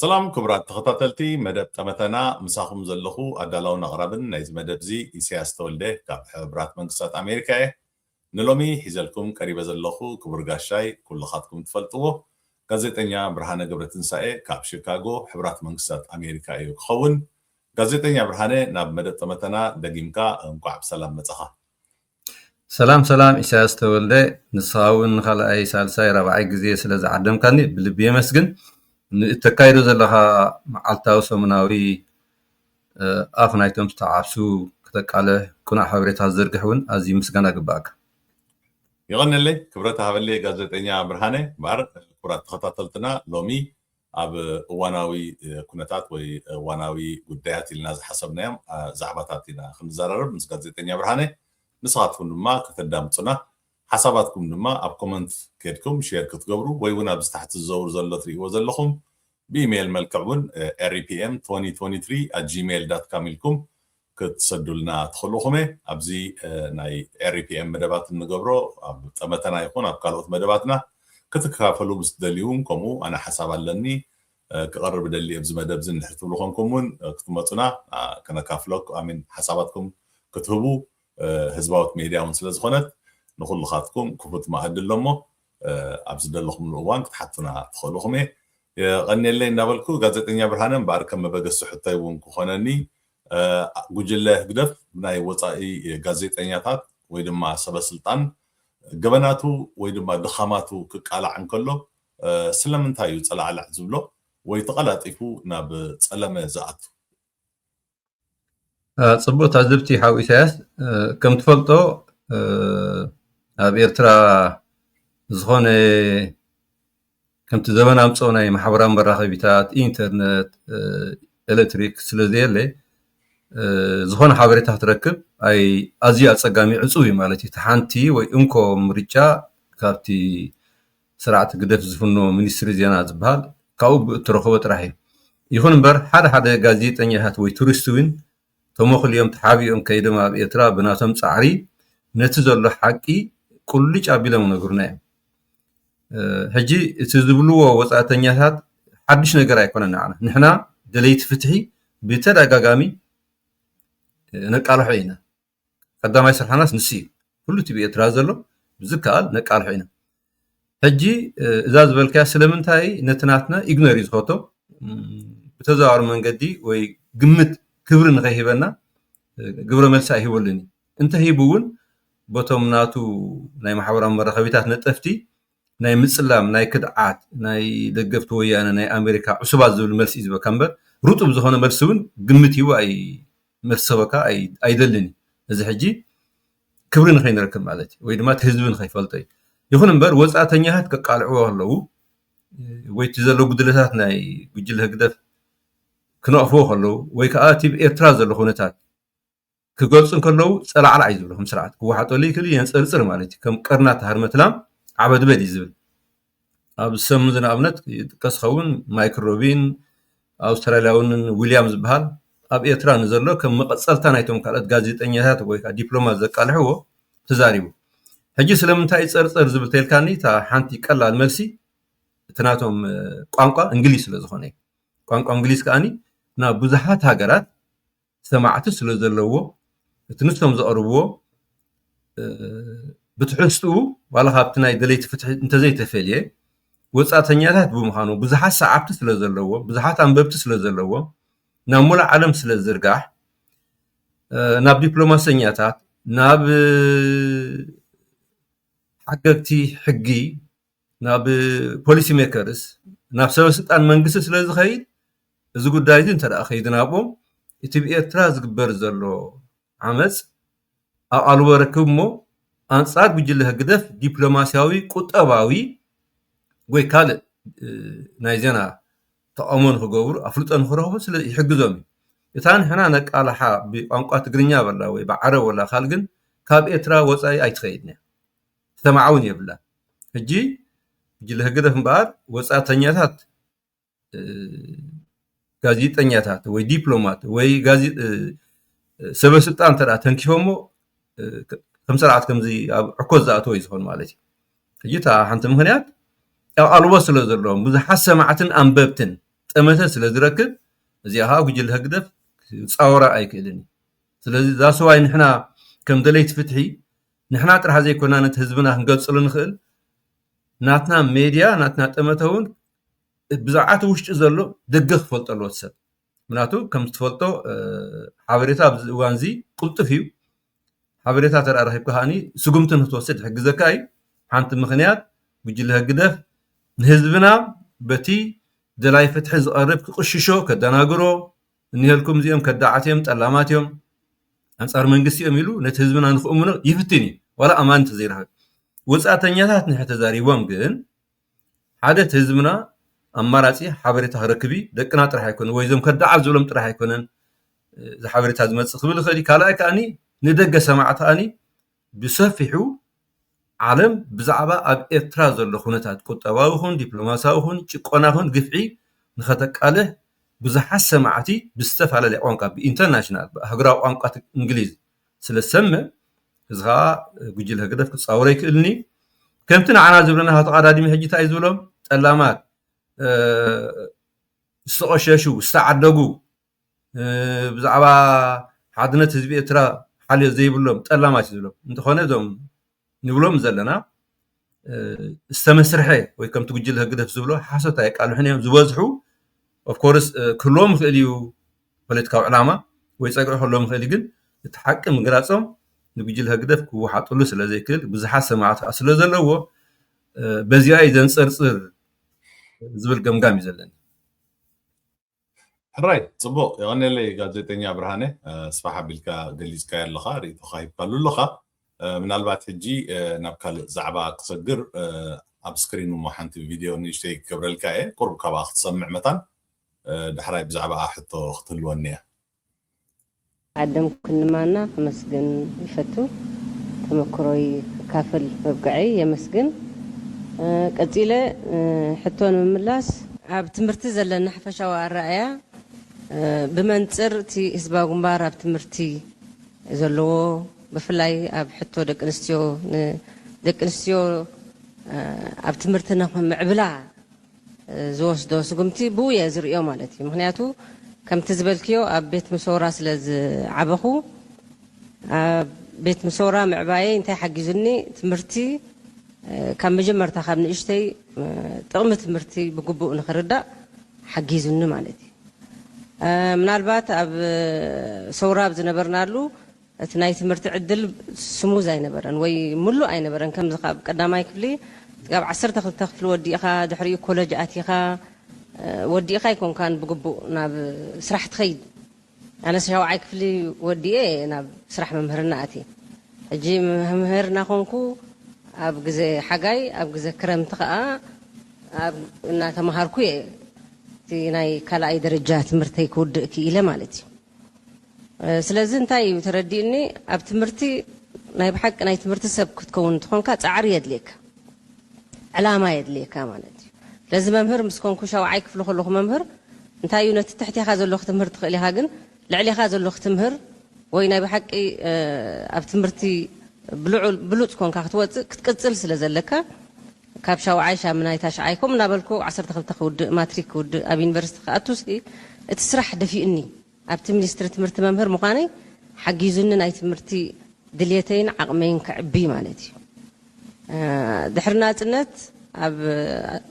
ሰላም ክቡራት ተኸታተልቲ መደብ ጠመተና ምሳኹም ዘለኹ ኣዳላውን ኣቕራብን ናይዚ መደብ እዚ ኢሰያስ ተወልደ ካብ ሕቡራት መንግስታት ኣሜሪካ እየ። ንሎሚ ሒዘልኩም ቀሪበ ዘለኹ ክቡር ጋሻይ ኩልኻትኩም ትፈልጥዎ ጋዜጠኛ ብርሃነ ገብረትንሳኤ ካብ ሽካጎ ሕቡራት መንግስታት ኣሜሪካ እዩ ክኸውን። ጋዜጠኛ ብርሃነ ናብ መደብ ጠመተና ደጊምካ እንቋዕ ብሰላም መጻኻ። ሰላም ሰላም ኢሳያስ ተወልደ ንስኻ ውን ንኻልኣይ ሳልሳይ ራብዓይ ግዜ ስለ ዝዓደምካኒ ብልቢ የመስግን ንእተካይዶ ዘለኻ መዓልታዊ ሰሙናዊ ኣፍ ናይቶም ዝተዓብሱ ክተቃልሕ ቅኑዕ ሓበሬታ ክትዝርግሕ ውን ኣዝዩ ምስጋና ይግብኣካ። የቐነለይ ክብረት ሃበለይ ጋዜጠኛ ብርሃነ ባር። ክቡራት ተኸታተልትና ሎሚ ኣብ እዋናዊ ኩነታት ወይ እዋናዊ ጉዳያት ኢልና ዝሓሰብናዮም ዛዕባታት ኢና ክንዘራረብ ምስ ጋዜጠኛ ብርሃነ። ንስኻትኩም ድማ ከተዳምጹና፣ ሓሳባትኩም ድማ ኣብ ኮመንት ኬድኩም ሼር ክትገብሩ ወይ እውን ኣብዚ ታሕቲ ዝዘውር ዘሎ ትርእይዎ ዘለኹም ብኢመይል መልክዕ እውን repm2023@gmail.com ኢልኩም ክትሰዱልና ትኽእሉኹም'የ ኣብዚ ናይ REPM መደባት እንገብሮ ኣብ ጠመተና ይኹን ኣብ ካልኦት መደባትና ክትከታተሉ ምስ ትደልዩ'ውን ከምኡ ኣነ ሓሳብ ኣለኒ ክቐርብ እደሊ ኣብዚ መደብ'ዚ እንድሕር ትብሉ ኮንኩም'ውን ክትመጹና ከነካፍለኩ I mean ሓሳባትኩም ክትህቡ ህዝባዊት ሜድያ ውን ስለ ዝኾነት ንኹሉኻትኩም ክፉት መኣዲ ኣሎ'ሞ ኣብ ዝደለኹምሉ እዋን ክትሓቱና ትኽእሉኹም'የ የቐንየለይ እንዳበልኩ ጋዜጠኛ ብርሃነ እምበኣር ከም መበገሲ ሕቶይ ውን ክኾነኒ ጉጅለ ህግደፍ ናይ ወጻኢ ጋዜጠኛታት ወይ ድማ ሰበስልጣን ገበናቱ ወይ ድማ ድኻማቱ ክቃላዕ እንከሎ ስለምንታይ እዩ ጸላዕላዕ ዝብሎ ወይ ተቐላጢፉ ናብ ጸለመ ዝኣቱ? ጽቡቅ ታዝብቲ ሓው ኢሳያስ ከም ትፈልጦ ኣብ ኤርትራ ዝኾነ ከምቲ ዘበን ኣምፀኦ ናይ ማሕበራዊ መራኸቢታት፣ ኢንተርነት፣ ኤሌክትሪክ ስለዘየለ ዝኾነ ሓበሬታ ክትረክብ ኣዝዩ ኣፀጋሚ ዕፁው እዩ ማለት እዩ። እቲ ሓንቲ ወይ እንኮ ምርጫ ካብቲ ስርዓት ህግደፍ ዝፍኖ ሚኒስትሪ ዜና ዝበሃል ካብኡ እትረኽቦ ጥራሕ እዩ። ይኹን እምበር ሓደ ሓደ ጋዜጠኛታት ወይ ቱሪስት እውን ተሞኽልዮም ተሓቢኦም ከይዶም ኣብ ኤርትራ ብናቶም ጻዕሪ ነቲ ዘሎ ሓቂ ቁልጭ ኣቢሎም ክነግሩና እዮም። ሕጂ እቲ ዝብልዎ ወጻእተኛታት ሓድሽ ነገር ኣይኮነን ንዓና። ንሕና ደለይቲ ፍትሒ ብተደጋጋሚ ነቃልሖ ኢና። ቀዳማይ ስርሓናስ ንሱ እዩ። ኩሉ እቲ ብኤርትራ ዘሎ ብዝከኣል ነቃልሖ ኢና። ሕጂ እዛ ዝበልካያ ስለምንታይ ነቲ ናትና ኢግኖር እዩ ዝፈቶ ብተዘዋዋሪ መንገዲ ወይ ግምት ክብሪ ንኸይህበና ግብረ መልሲ ኣይህበሉን እዩ እንተሂቡ እውን በቶም ናቱ ናይ ማሕበራዊ መራኸቢታት ነጠፍቲ ናይ ምፅላም ናይ ክድዓት ናይ ደገፍቲ ወያነ ናይ ኣሜሪካ ዕሱባት ዝብል መልሲ እዩ ዝበካ እምበር ርጡብ ዝኾነ መልሲ እውን ግምት ሂቡ ኣይ መልሲ ሰበካ ኣይደልን እዩ እዚ ሕጂ ክብሪ ንኸይንረክብ ማለት እዩ ወይ ድማ እቲ ህዝቢ ንኸይፈልጦ እዩ ይኹን እምበር ወፃእተኛታት ከቃልዕዎ ከለዉ ወይ እቲ ዘሎ ጉድለታት ናይ ጉጅለ ህግደፍ ክነቕፍዎ ከለዉ ወይ ከዓ እቲ ኤርትራ ዘሎ ኩነታት ክገልፁ ከለዉ ፀላዕላዕ እዩ ዝብሉ ከም ስርዓት ክወሓጠሉ ይክእል የንፀርፅር ማለት እዩ ከም ቀርናት ሃርመትላም ዓበድበድ እዩ ዝብል ኣብ ሰም ን ኣብነት ይጥቀስ ዝኸውን ማይክሮቢን ኣውስትራልያ ውን ዊልያም ዝባሃል ኣብ ኤርትራ ንዘሎ ከም መቐጸልታ ናይቶም ካልኦት ጋዜጠኛታት ወይ ከኣ ዲፕሎማት ዘቃልሕዎ ተዛሪቡ ሕጂ ስለምንታይ እዩ ጸርጸር ዝብል ተልካኒ እታ ሓንቲ ቀላል መልሲ እቲ ናቶም ቋንቋ እንግሊዝ ስለ ዝኾነ እዩ ቋንቋ እንግሊዝ ከኣ ናብ ብዙሓት ሃገራት ሰማዕቲ ስለ ዘለዎ እቲ ንሶም ዘቕርብዎ ብትሕዝትኡ ዋላ ካብቲ ናይ ደለይቲ ፍትሒ እንተዘይተፈልየ ወጻእተኛታት ብምዃኑ ብዙሓት ሰዓብቲ ስለ ዘለዎ ብዙሓት ኣንበብቲ ስለ ዘለዎ ናብ ሙሉእ ዓለም ስለ ዝዝርጋሕ ናብ ዲፕሎማሰኛታት ናብ ሓገግቲ ሕጊ ናብ ፖሊሲ ሜከርስ ናብ ሰበስልጣን መንግስቲ ስለ ዝኸይድ እዚ ጉዳይ እዚ እንተ ከይዱ ናብኦም እቲ ብ ኤርትራ ዝግበር ዘሎ ዓመጽ ኣብ ኣልቦ ረክብ እሞ ኣንጻር ጉጅለ ህግደፍ ዲፕሎማስያዊ ቁጠባዊ ወይ ካልእ ናይ ዜና ተቓውሞ ንክገብሩ ኣፍልጦ ንክረኽቡ ስለ ይሕግዞም እዩ እታ ንሕና ነቃላሓ ብቋንቋ ትግርኛ በላ ወይ ብዓረብ ወላ ካልእ ግን ካብ ኤርትራ ወጻኢ ኣይትኸይድን እያ ትሰማዕ ውን የብላን ሕጂ ጉጅለ ህግደፍ እምበኣር ወጻእተኛታት ጋዜጠኛታት ወይ ዲፕሎማት ወይ ሰበ ስልጣን እንተ ተንኪፎሞ ከም ስርዓት ከምዚ ኣብ ዕኮት ዝኣተወ እዩ ዝኾን ማለት እዩ ሕጂ እታ ሓንቲ ምክንያት ኣብ ኣልቦ ስለ ዘለዎም ብዙሓት ሰማዕትን ኣንበብትን ጠመተ ስለ ዝረክብ እዚኣ ከዓ ጉጅለ ህግደፍ ክፃወራ ኣይክእልን እዩ ስለዚ እዛ ሰዋይ ንሕና ከም ደለይቲ ፍትሒ ንሕና ጥራሕ ዘይኮና ነቲ ህዝብና ክንገልጸሉ ንኽእል ናትና ሜድያ ናትና ጠመተ እውን ብዛዕባ እቲ ውሽጢ ዘሎ ደገ ክፈልጦ ኣለዎ ሰብ ምክንያቱ ከም ዝትፈልጦ ሓበሬታ ኣብዚ እዋን እዚ ቅልጡፍ እዩ ሓበሬታ ተረኣ ረኪብካ ከዓኒ ስጉምቲ ንክትወስድ ይሕግዘካ እዩ ሓንቲ ምክንያት ጉጅለ ህግደፍ ንህዝብና በቲ ደላይ ፍትሒ ዝቐርብ ክቕሽሾ ከደናግሮ እንሄልኩም እዚኦም ከዳዓት እዮም ጠላማት እዮም ኣንጻር መንግስቲ እዮም ኢሉ ነቲ ህዝብና ንክእምኖ ይፍትን እዩ ዋላ ኣማን እንተዘይረኸበ ወጻእተኛታት ንሕ ተዛሪቦም ግን ሓደ እቲ ህዝብና ኣማራጺ ሓበሬታ ክረክብ እዩ ደቅና ጥራሕ ኣይኮነ ወይ እዞም ከዳዓት ዝብሎም ጥራሕ ኣይኮነን እዚ ሓበሬታ ዝመጽእ ክብል ይኽእል እዩ ካልኣይ ከኣኒ ንደገ ሰማዕቲ ኣኒ ብሰፊሑ ዓለም ብዛዕባ ኣብ ኤርትራ ዘሎ ኩነታት ቁጠባዊ ይኹን ዲፕሎማስያዊ ይኹን ጭቆና ይኹን ግፍዒ ንኸተቃልሕ ብዙሓት ሰማዕቲ ብዝተፈላለየ ቋንቋ ብኢንተርናሽናል ብሃገራዊ ቋንቋ እንግሊዝ ስለ ዝሰምዕ እዚ ከዓ ጉጅለ ህግደፍ ክጻወሮ ኣይክእልን እዩ ከምቲ ንዓና ዝብለና ሃቶ ቀዳድሚ ሕጂ እንታይ እዩ ዝብሎም ጠላማት ዝተቆሸሹ ዝተዓደጉ ብዛዕባ ሓድነት ህዝቢ ኤርትራ ሓልዮት ዘይብሎም ጠላማት እዩ ዝብሎም እንተኾነ እዞም ንብሎም ዘለና ዝተመስርሐ ወይ ከምቲ ጉጅለ ህግደፍ ዝብሎ ሓሶት ኣየቃልሑን እዮም ዝበዝሑ ኦፍኮርስ ክህልዎም ይኽእል እዩ ፖለቲካዊ ዕላማ ወይ ፀግዒ ክህልዎም ይኽእል ግን እቲ ሓቂ ምግላፆም ንጉጅለ ህግደፍ ክወሓጥሉ ስለ ዘይክእል ብዙሓት ሰማዕቲ ከዓ ስለ ዘለዎ በዚኣ እዩ ዘንፀርፅር ዝብል ገምጋም እዩ ዘለኒ ሕራይ ጽቡቕ የቐኔለይ ጋዜጠኛ ብርሃነ ስፋሕ ኣቢልካ ገሊጽካዮ ኣለኻ ርእይቶኻ ሂብካሉ ኣለኻ ምናልባት ሕጂ ናብ ካልእ ዛዕባ ክሰግር ኣብ ስክሪን እሞ ሓንቲ ቪድዮ ንእሽተይ ክገብረልካ እየ ቁሩብ ካብኣ ክትሰምዕ መታን ዳሕራይ ብዛዕባኣ ሕቶ ክትህልወኒ እያ ዓደም ኩንማና ከመስግን ይፈቱ ተመክሮይ ክካፈል ምብቀዐይ የመስግን ቀጺለ ሕቶ ንምምላስ። ኣብ ትምህርቲ ዘለና ሓፈሻዊ ኣረኣእያ ብመንጽር እቲ ህዝባዊ ግንባር ኣብ ትምህርቲ ዘለዎ ብፍላይ ኣብ ሕቶ ደቂ ኣንስትዮ ንደቂ ኣንስትዮ ኣብ ትምህርቲ ንምዕብላ ዝወስዶ ስጉምቲ ብኡ እየ ዝርእዮ ማለት እዩ ምክንያቱ ከምቲ ዝበልክዮ ኣብ ቤት ምሶራ ስለ ዝዓበኹ ኣብ ቤት ምሶራ ምዕባየይ እንታይ ሓጊዙኒ ትምህርቲ ካብ መጀመርታ ካብ ንእሽተይ ጥቕሚ ትምህርቲ ብግቡእ ንክርዳእ ሓጊዙኒ ማለት እዩ ምናልባት ኣብ ሶራ ኣብ ዝነበርናሉ እቲ ናይ ትምህርቲ ዕድል ስሙዝ ኣይነበረን ወይ ምሉእ ኣይነበረን ከምዚ ካብ ቀዳማይ ክፍሊ ክሳብ ዓሰርተ ክልተ ክፍሊ ወዲእኻ ድሕሪኡ ኮለጅ ኣቲኻ ወዲእኻ ኣይኮንካን ብግቡእ ናብ ስራሕ ትኸይድ ኣነስ ሻውዓይ ክፍሊ ወዲኤ እየ ናብ ስራሕ ምምህርና ኣትየ ሕጂ መምህር እናኾንኩ ኣብ ግዘ ሓጋይ ኣብ ግዘ ክረምቲ ኸኣ ኣብ እናተማሃርኩ እየ እቲ ናይ ካልኣይ ደረጃ ትምህርተይ ክውድእ ክኢለ ማለት እዩ። ስለዚ እንታይ እዩ ተረዲኡኒ ኣብ ትምህርቲ ናይ ብሓቂ ናይ ትምህርቲ ሰብ ክትከውን እንተኾንካ ጻዕሪ የድልየካ ዕላማ የድልየካ ማለት እዩ ስለዚ መምህር ምስ ኮንኩ ሻውዓይ ክፍሊ ከለኹ መምህር እንታይ እዩ ነቲ ትሕቴኻ ዘሎ ክትምህር ትኽእል ኢኻ ግን ልዕሌኻ ዘሎ ክትምህር ወይ ናይ ብሓቂ ኣብ ትምህርቲ ብሉጽ ኮንካ ክትወጽእ ክትቅጽል ስለ ዘለካ ካብ ሻውዓይ ሻምናይ ታሽዓይ ከምኡ እናበልኩ ዓሰርተ ክልተ ክውድእ ማትሪክ ክውድእ ኣብ ዩኒቨርሲቲ ክኣቱ'ሲ እቲ ስራሕ ደፊኡኒ። ኣብቲ ሚኒስትሪ ትምህርቲ መምህር ምዃነይ ሓጊዙኒ ናይ ትምህርቲ ድልየተይን ዓቕመይን ከዕቢ ማለት እዩ። ድሕሪ ናጽነት ኣብ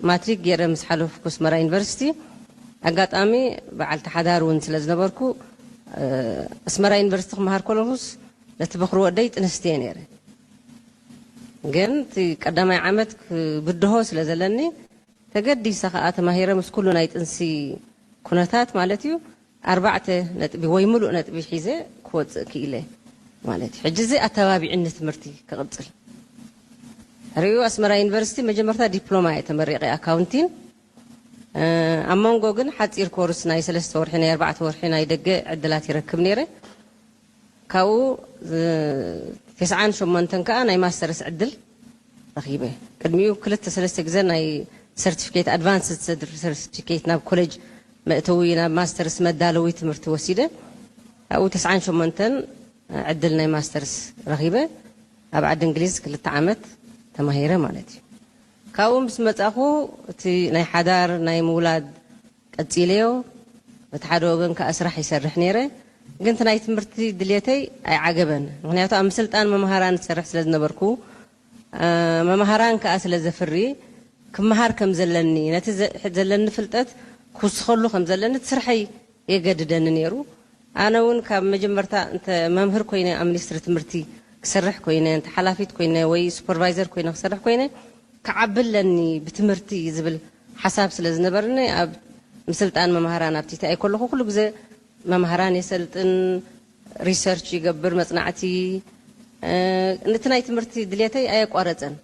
ማትሪክ ጌረ ምስ ሓለፍኩ ኣስመራ ዩኒቨርሲቲ ኣጋጣሚ በዓልቲ ሓዳር እውን ስለ ዝነበርኩ ኣስመራ ዩኒቨርሲቲ ክመሃር ከለኹስ ነቲ በዅሪ ወደይ ጥንስቲ እየ ነይረ፣ ግን እቲ ቀዳማይ ዓመት ክብድሆ ስለ ዘለኒ ተገዲሰ ከኣ ተማሂረ ምስ ኩሉ ናይ ጥንሲ ኩነታት ማለት እዩ ኣርባዕተ ነጥቢ ወይ ምሉእ ነጥቢ ሒዘ ክወጽእ ክኢለ ማለት እዩ። ሕጂ እዚ ኣተባቢዑኒ ትምህርቲ ክቕጽል። ድሕሪኡ ኣስመራ ዩኒቨርሲቲ መጀመርታ ዲፕሎማ እየ ተመሪቐ ኣካውንቲን፣ ኣብ መንጎ ግን ሓጺር ኮርስ ናይ ሰለስተ ወርሒ ናይ ኣርባዕተ ወርሒ ናይ ደገ ዕድላት ይረክብ ነይረ። ካብኡ ትስዓን ሸሞንተን ከኣ ናይ ማስተርስ ዕድል ረኺበ። ቅድሚኡ ክልተ ሰለስተ ግዘ ናይ ሰርቲፊኬት፣ ኣድቫንስድ ሰርቲፊኬት፣ ናብ ኮሌጅ መእተዊ ናብ ማስተርስ መዳለዊ ትምህርቲ ወሲደ። ካብኡ ትስዓን ሸሞንተን ዕድል ናይ ማስተርስ ረኺበ። ኣብ ዓዲ እንግሊዝ ክልተ ዓመት ተማሂረ ማለት እዩ። ካብኡ ምስ መጻእኹ እቲ ናይ ሓዳር ናይ ምውላድ፣ ቀጺለዮ በቲ ሓደ ወገን ከኣ ስራሕ ይሰርሕ ኔረ ግን እቲ ናይ ትምህርቲ ድልየተይ ኣይዓገበን ምክንያቱ ኣብ ምስልጣን መምሃራን እሰርሕ ስለ ዝነበርኩ መምሃራን ከኣ ስለ ዘፍሪ ክምሃር ከም ዘለኒ ነቲ ዘለኒ ፍልጠት ክውስከሉ ከም ዘለኒ እቲ ስርሐይ የገድደኒ ኔሩ ኣነ ውን ካብ መጀመርታ እንተ መምህር ኮይነ ኣብ ሚኒስትሪ ትምህርቲ ክሰርሕ ኮይነ እንተ ሓላፊት ኮይነ ወይ ሱፐርቫይዘር ኮይነ ክሰርሕ ኮይነ ክዓቢ ኣለኒ ብትምህርቲ ዝብል ሓሳብ ስለ ዝነበርኒ ኣብ ምስልጣን መማህራን ኣብ TTI ከለኹ ኩሉ ግዘ መማህራን የሰልጥን፣ Research፣ ይገብር፣ መፅናዕቲ፣ እቲ ናይ ትምህርቲ ድልየተይ ኣየቋረፀን።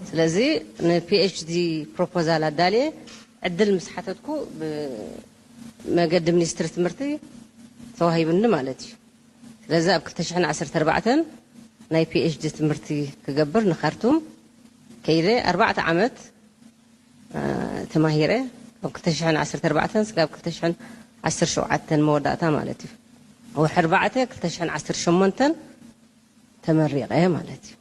ስለዚ ን PHD ፕሮፖዛል ኣዳልየ ዕድል ምስ ሓተትኩ ብ መገዲ ሚኒስትሪ ትምህርቲ ተዋሂቡኒ ማለት እዩ። ስለዚ ኣብ ክልተ ሽሕን ዓሰርተ ኣርባዕተን ናይ PHD ትምህርቲ ክገብር ን ካርቱም ከይደ ኣርባዕተ ዓመት፣ ተማሂረ ካብ ክልተ ሽሕን ዓሰርተ ኣርባዕተን ስጋብ ክልተ ሽሕን ዓሰርተ ሸውዓተን መወዳእታ ማለት እዩ ወርሒ ኣርባዕተ ክልተ ሽሕን ዓሰርተ ሸሞንተን ተመሪቐ ማለት እዩ።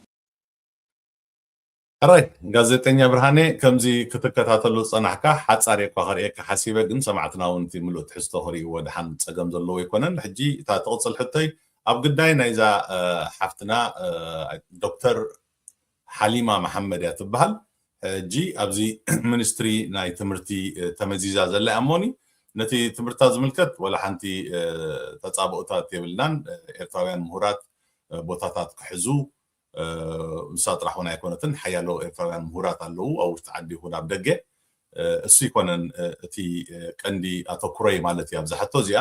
ሕራይ ጋዜጠኛ ብርሃኔ ከምዚ ክትከታተሎ ዝጸናሕካ ሓጻር እየኳ ከርእየካ ሓሲበ ግን ሰማዕትና ውን እቲ ምሉእ ትሕዝቶ ክርእይዎ ድሓን ጸገም ዘለዎ ኣይኮነን ሕጂ እታ ትቕጽል ሕቶይ ኣብ ግዳይ ናይዛ ሓፍትና ዶክተር ሓሊማ መሓመድ እያ ትበሃል ሕጂ ኣብዚ ሚኒስትሪ ናይ ትምህርቲ ተመዚዛ ዘላ እያ እሞኒ ነቲ ትምህርታ ዝምልከት ወላ ሓንቲ ተጻብኦታት የብልናን ኤርትራውያን ምሁራት ቦታታት ክሕዙ ንሳ ጥራሕ እውን ኣይኮነትን ሓያሎ ኤርትራውያን ምሁራት ኣለዉ ኣብ ውሽጢ ዓዲ ይኹን ኣብ ደገ እሱ ይኮነን እቲ ቀንዲ ኣተኩሮይ ማለት እዩ ኣብዛ ሕቶ እዚኣ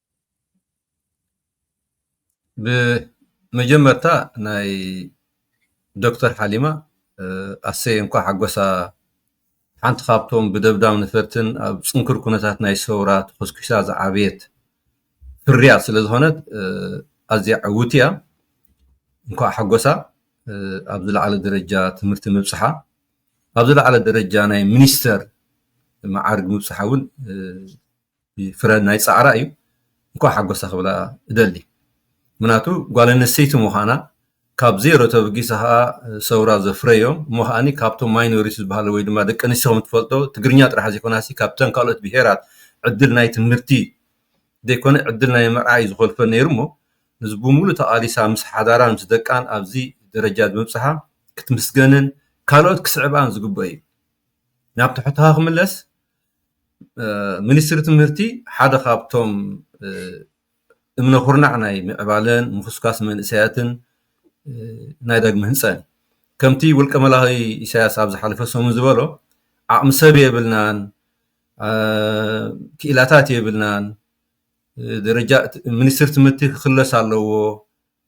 ብመጀመርታ ናይ ዶክተር ሓሊማ ኣሰይ እንኳዕ ሓጎሳ ሓንቲ ካብቶም ብደብዳብ ነፈርትን ኣብ ፅንኩር ኩነታት ናይ ሰውራ ተኾስኲሳ ዝዓበየት ፍርያት ስለ ዝኾነት ኣዝያ ዕውቲ እያ እንኳዕ ሓጎሳ ኣብ ዝለዓለ ደረጃ ትምህርቲ ምብፅሓ ኣብ ዝለዓለ ደረጃ ናይ ሚኒስተር መዓርግ ምብፅሓ እውን ፍረ ናይ ፃዕራ እዩ እንኳዕ ሓጎሳ ክብላ እደሊ ምክንያቱ ጓል ኣነስተይቲ ምኳና ካብ ዜሮ ተበጊሳ ከዓ ሰውራ ዘፍረዮ እሞ ከዓ ካብቶም ማይኖሪቲ ዝበሃሉ ወይ ድማ ደቂ ኣንስትዮ ከምትፈልጦ ትግርኛ ጥራሕ ዘይኮናሲ ካብተን ካልኦት ብሄራት ዕድል ናይ ትምህርቲ ዘይኮነ ዕድል ናይ ምርኣይ ዝኮልፈ ነይሩ እሞ እዚ ብምሉእ ተቃሊሳ ምስ ሓዳራን ምስ ደቃን ኣብዚ ደረጃ ብምብፅሓ ክትምስገንን ካልኦት ክስዕብኣን ዝግበኦ እዩ ናብ ትሕትኻ ክምለስ ሚኒስትሪ ትምህርቲ ሓደ ካብቶም እምነ ኩርናዕ ናይ ምዕባለን ምኹስኳስ መንእሰያትን ናይ ዳግመ ህንፀት እዩ። ከምቲ ውልቀ መላኺ ኢሳያስ ኣብ ዝሓለፈ ሰሙን ዝበሎ ዓቕሚ ሰብ የብልናን፣ ክኢላታት የብልናን፣ ደረጃ ሚኒስትሪ ትምህርቲ ክኽለስ ኣለዎ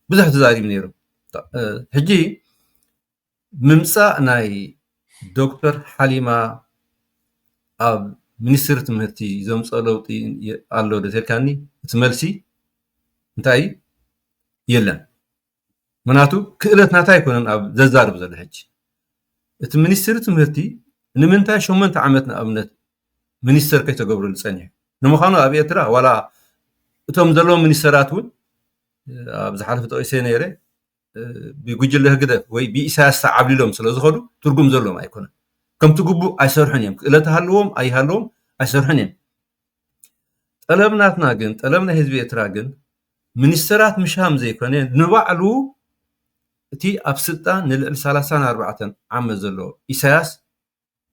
ብዙሕ ተዛሪቡ ነይሩ። ሕጂ ምምጻእ ናይ ዶክተር ሓሊማ ኣብ ሚኒስትሪ ትምህርቲ ዘምጽኦ ለውጢ ኣሎ ዶ ተልካኒ እቲ መልሲ እንታይ እዩ የለን ምክንያቱ ክእለት ናታ ኣይኮነን ኣብ ዘዛርብ ዘሎ ሕጂ እቲ ሚኒስትሪ ትምህርቲ ንምንታይ ሸሞንተ ዓመት ንኣብነት ሚኒስተር ከይተገብረሉ ጸኒሑ ንምዃኑ ኣብ ኤርትራ ዋላ እቶም ዘለዉ ሚኒስተራት እውን ኣብ ዝሓለፈ ጠቂሰ ነይረ ብጉጅለ ህግደፍ ወይ ብኢሳያስ ተዓብሊሎም ስለ ዝኸዱ ትርጉም ዘለዎም ኣይኮነን ከምቲ ግቡእ ኣይሰርሑን እዮም ክእለት ሃለዎም ኣይሃለዎም ኣይሰርሑን እዮም ጠለብ ናትና ግን ጠለብ ናይ ህዝቢ ኤርትራ ግን ሚኒስተራት ምሻም ዘይኮነ ንባዕሉ እቲ ኣብ ስልጣን ንልዕሊ 34 ዓመት ዘሎ ኢሳያስ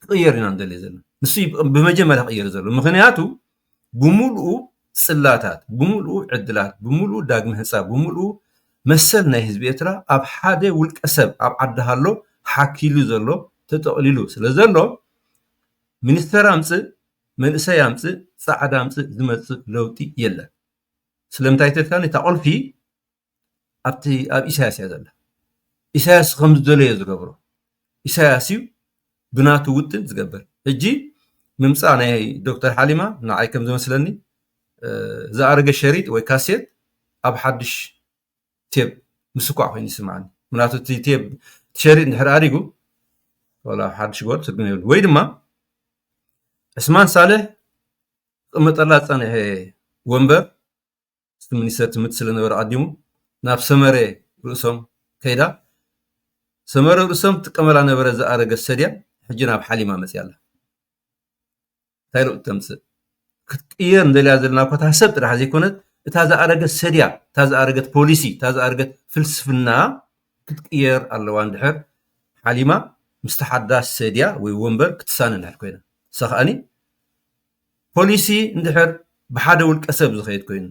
ክቕየር ኢና ንደልዮ ዘለና ንሱ ብመጀመርያ ክቕየር ዘሎ ምክንያቱ ብምልኡ ጽላታት ብምልኡ ዕድላት ብምልኡ ዳግሚ ህንፃ ብምልኡ መሰል ናይ ህዝቢ ኤርትራ ኣብ ሓደ ውልቀ ሰብ ኣብ ዓዲ ሃሎ ሓኪሉ ዘሎ ተጠቕሊሉ ስለ ዘሎ ሚኒስተር ኣምፅእ መንእሰይ ኣምፅእ ፃዕዳ ኣምፅእ ዝመፅእ ለውጢ የለን ስለምንታይ ተልካኒ እታ ቁልፊ ኣብቲ ኣብ ኢሳያስ እያ ዘላ ኢሳያስ ከም ዝደለዮ ዝገብሮ ኢሳያስ እዩ ብናቱ ውጥን ዝገብር ሕጂ ምምፃእ ናይ ዶክተር ሓሊማ ንዓይ ከም ዝመስለኒ ዝኣረገ ሸሪጥ ወይ ካሴት ኣብ ሓድሽ ቴብ ምስኳዕ ኮይኑ ይስምዓኒ ምክንያቱ እቲ ቴብ ሸሪጥ ንድሕር ኣሪጉ ወላ ሓድሽ ጎር ትርጉም የብሉ ወይ ድማ ዕስማን ሳልሕ ክቕመጠላ ዝፀንሐ ወንበር እቲ ሚኒስተር ትምህርቲ ስለነበረ ኣቐዲሙ ናብ ሰመረ ርእሶም ከይዳ ሰመረ ርእሶም ትጥቀመላ ነበረ ዝኣረገ ሰድያ ሕጂ ናብ ሓሊማ መፅያ ኣላ እንታይ ለውጢ ተምፅእ ክትቅየር እንደልያ ዘለና እኳ እታ ሰብ ጥራሕ ዘይኮነት እታ ዝኣረገት ሰድያ እታ ዝኣረገት ፖሊሲ እታ ዝኣረገት ፍልስፍና ክትቅየር ኣለዋ እንድሕር ሓሊማ ምስቲ ሓዳስ ሰድያ ወይ ወንበር ክትሳነ እንድሕር ኮይና እሳ ከዓኒ ፖሊሲ እንድሕር ብሓደ ውልቀ ሰብ ዝኸይድ ኮይኑ፣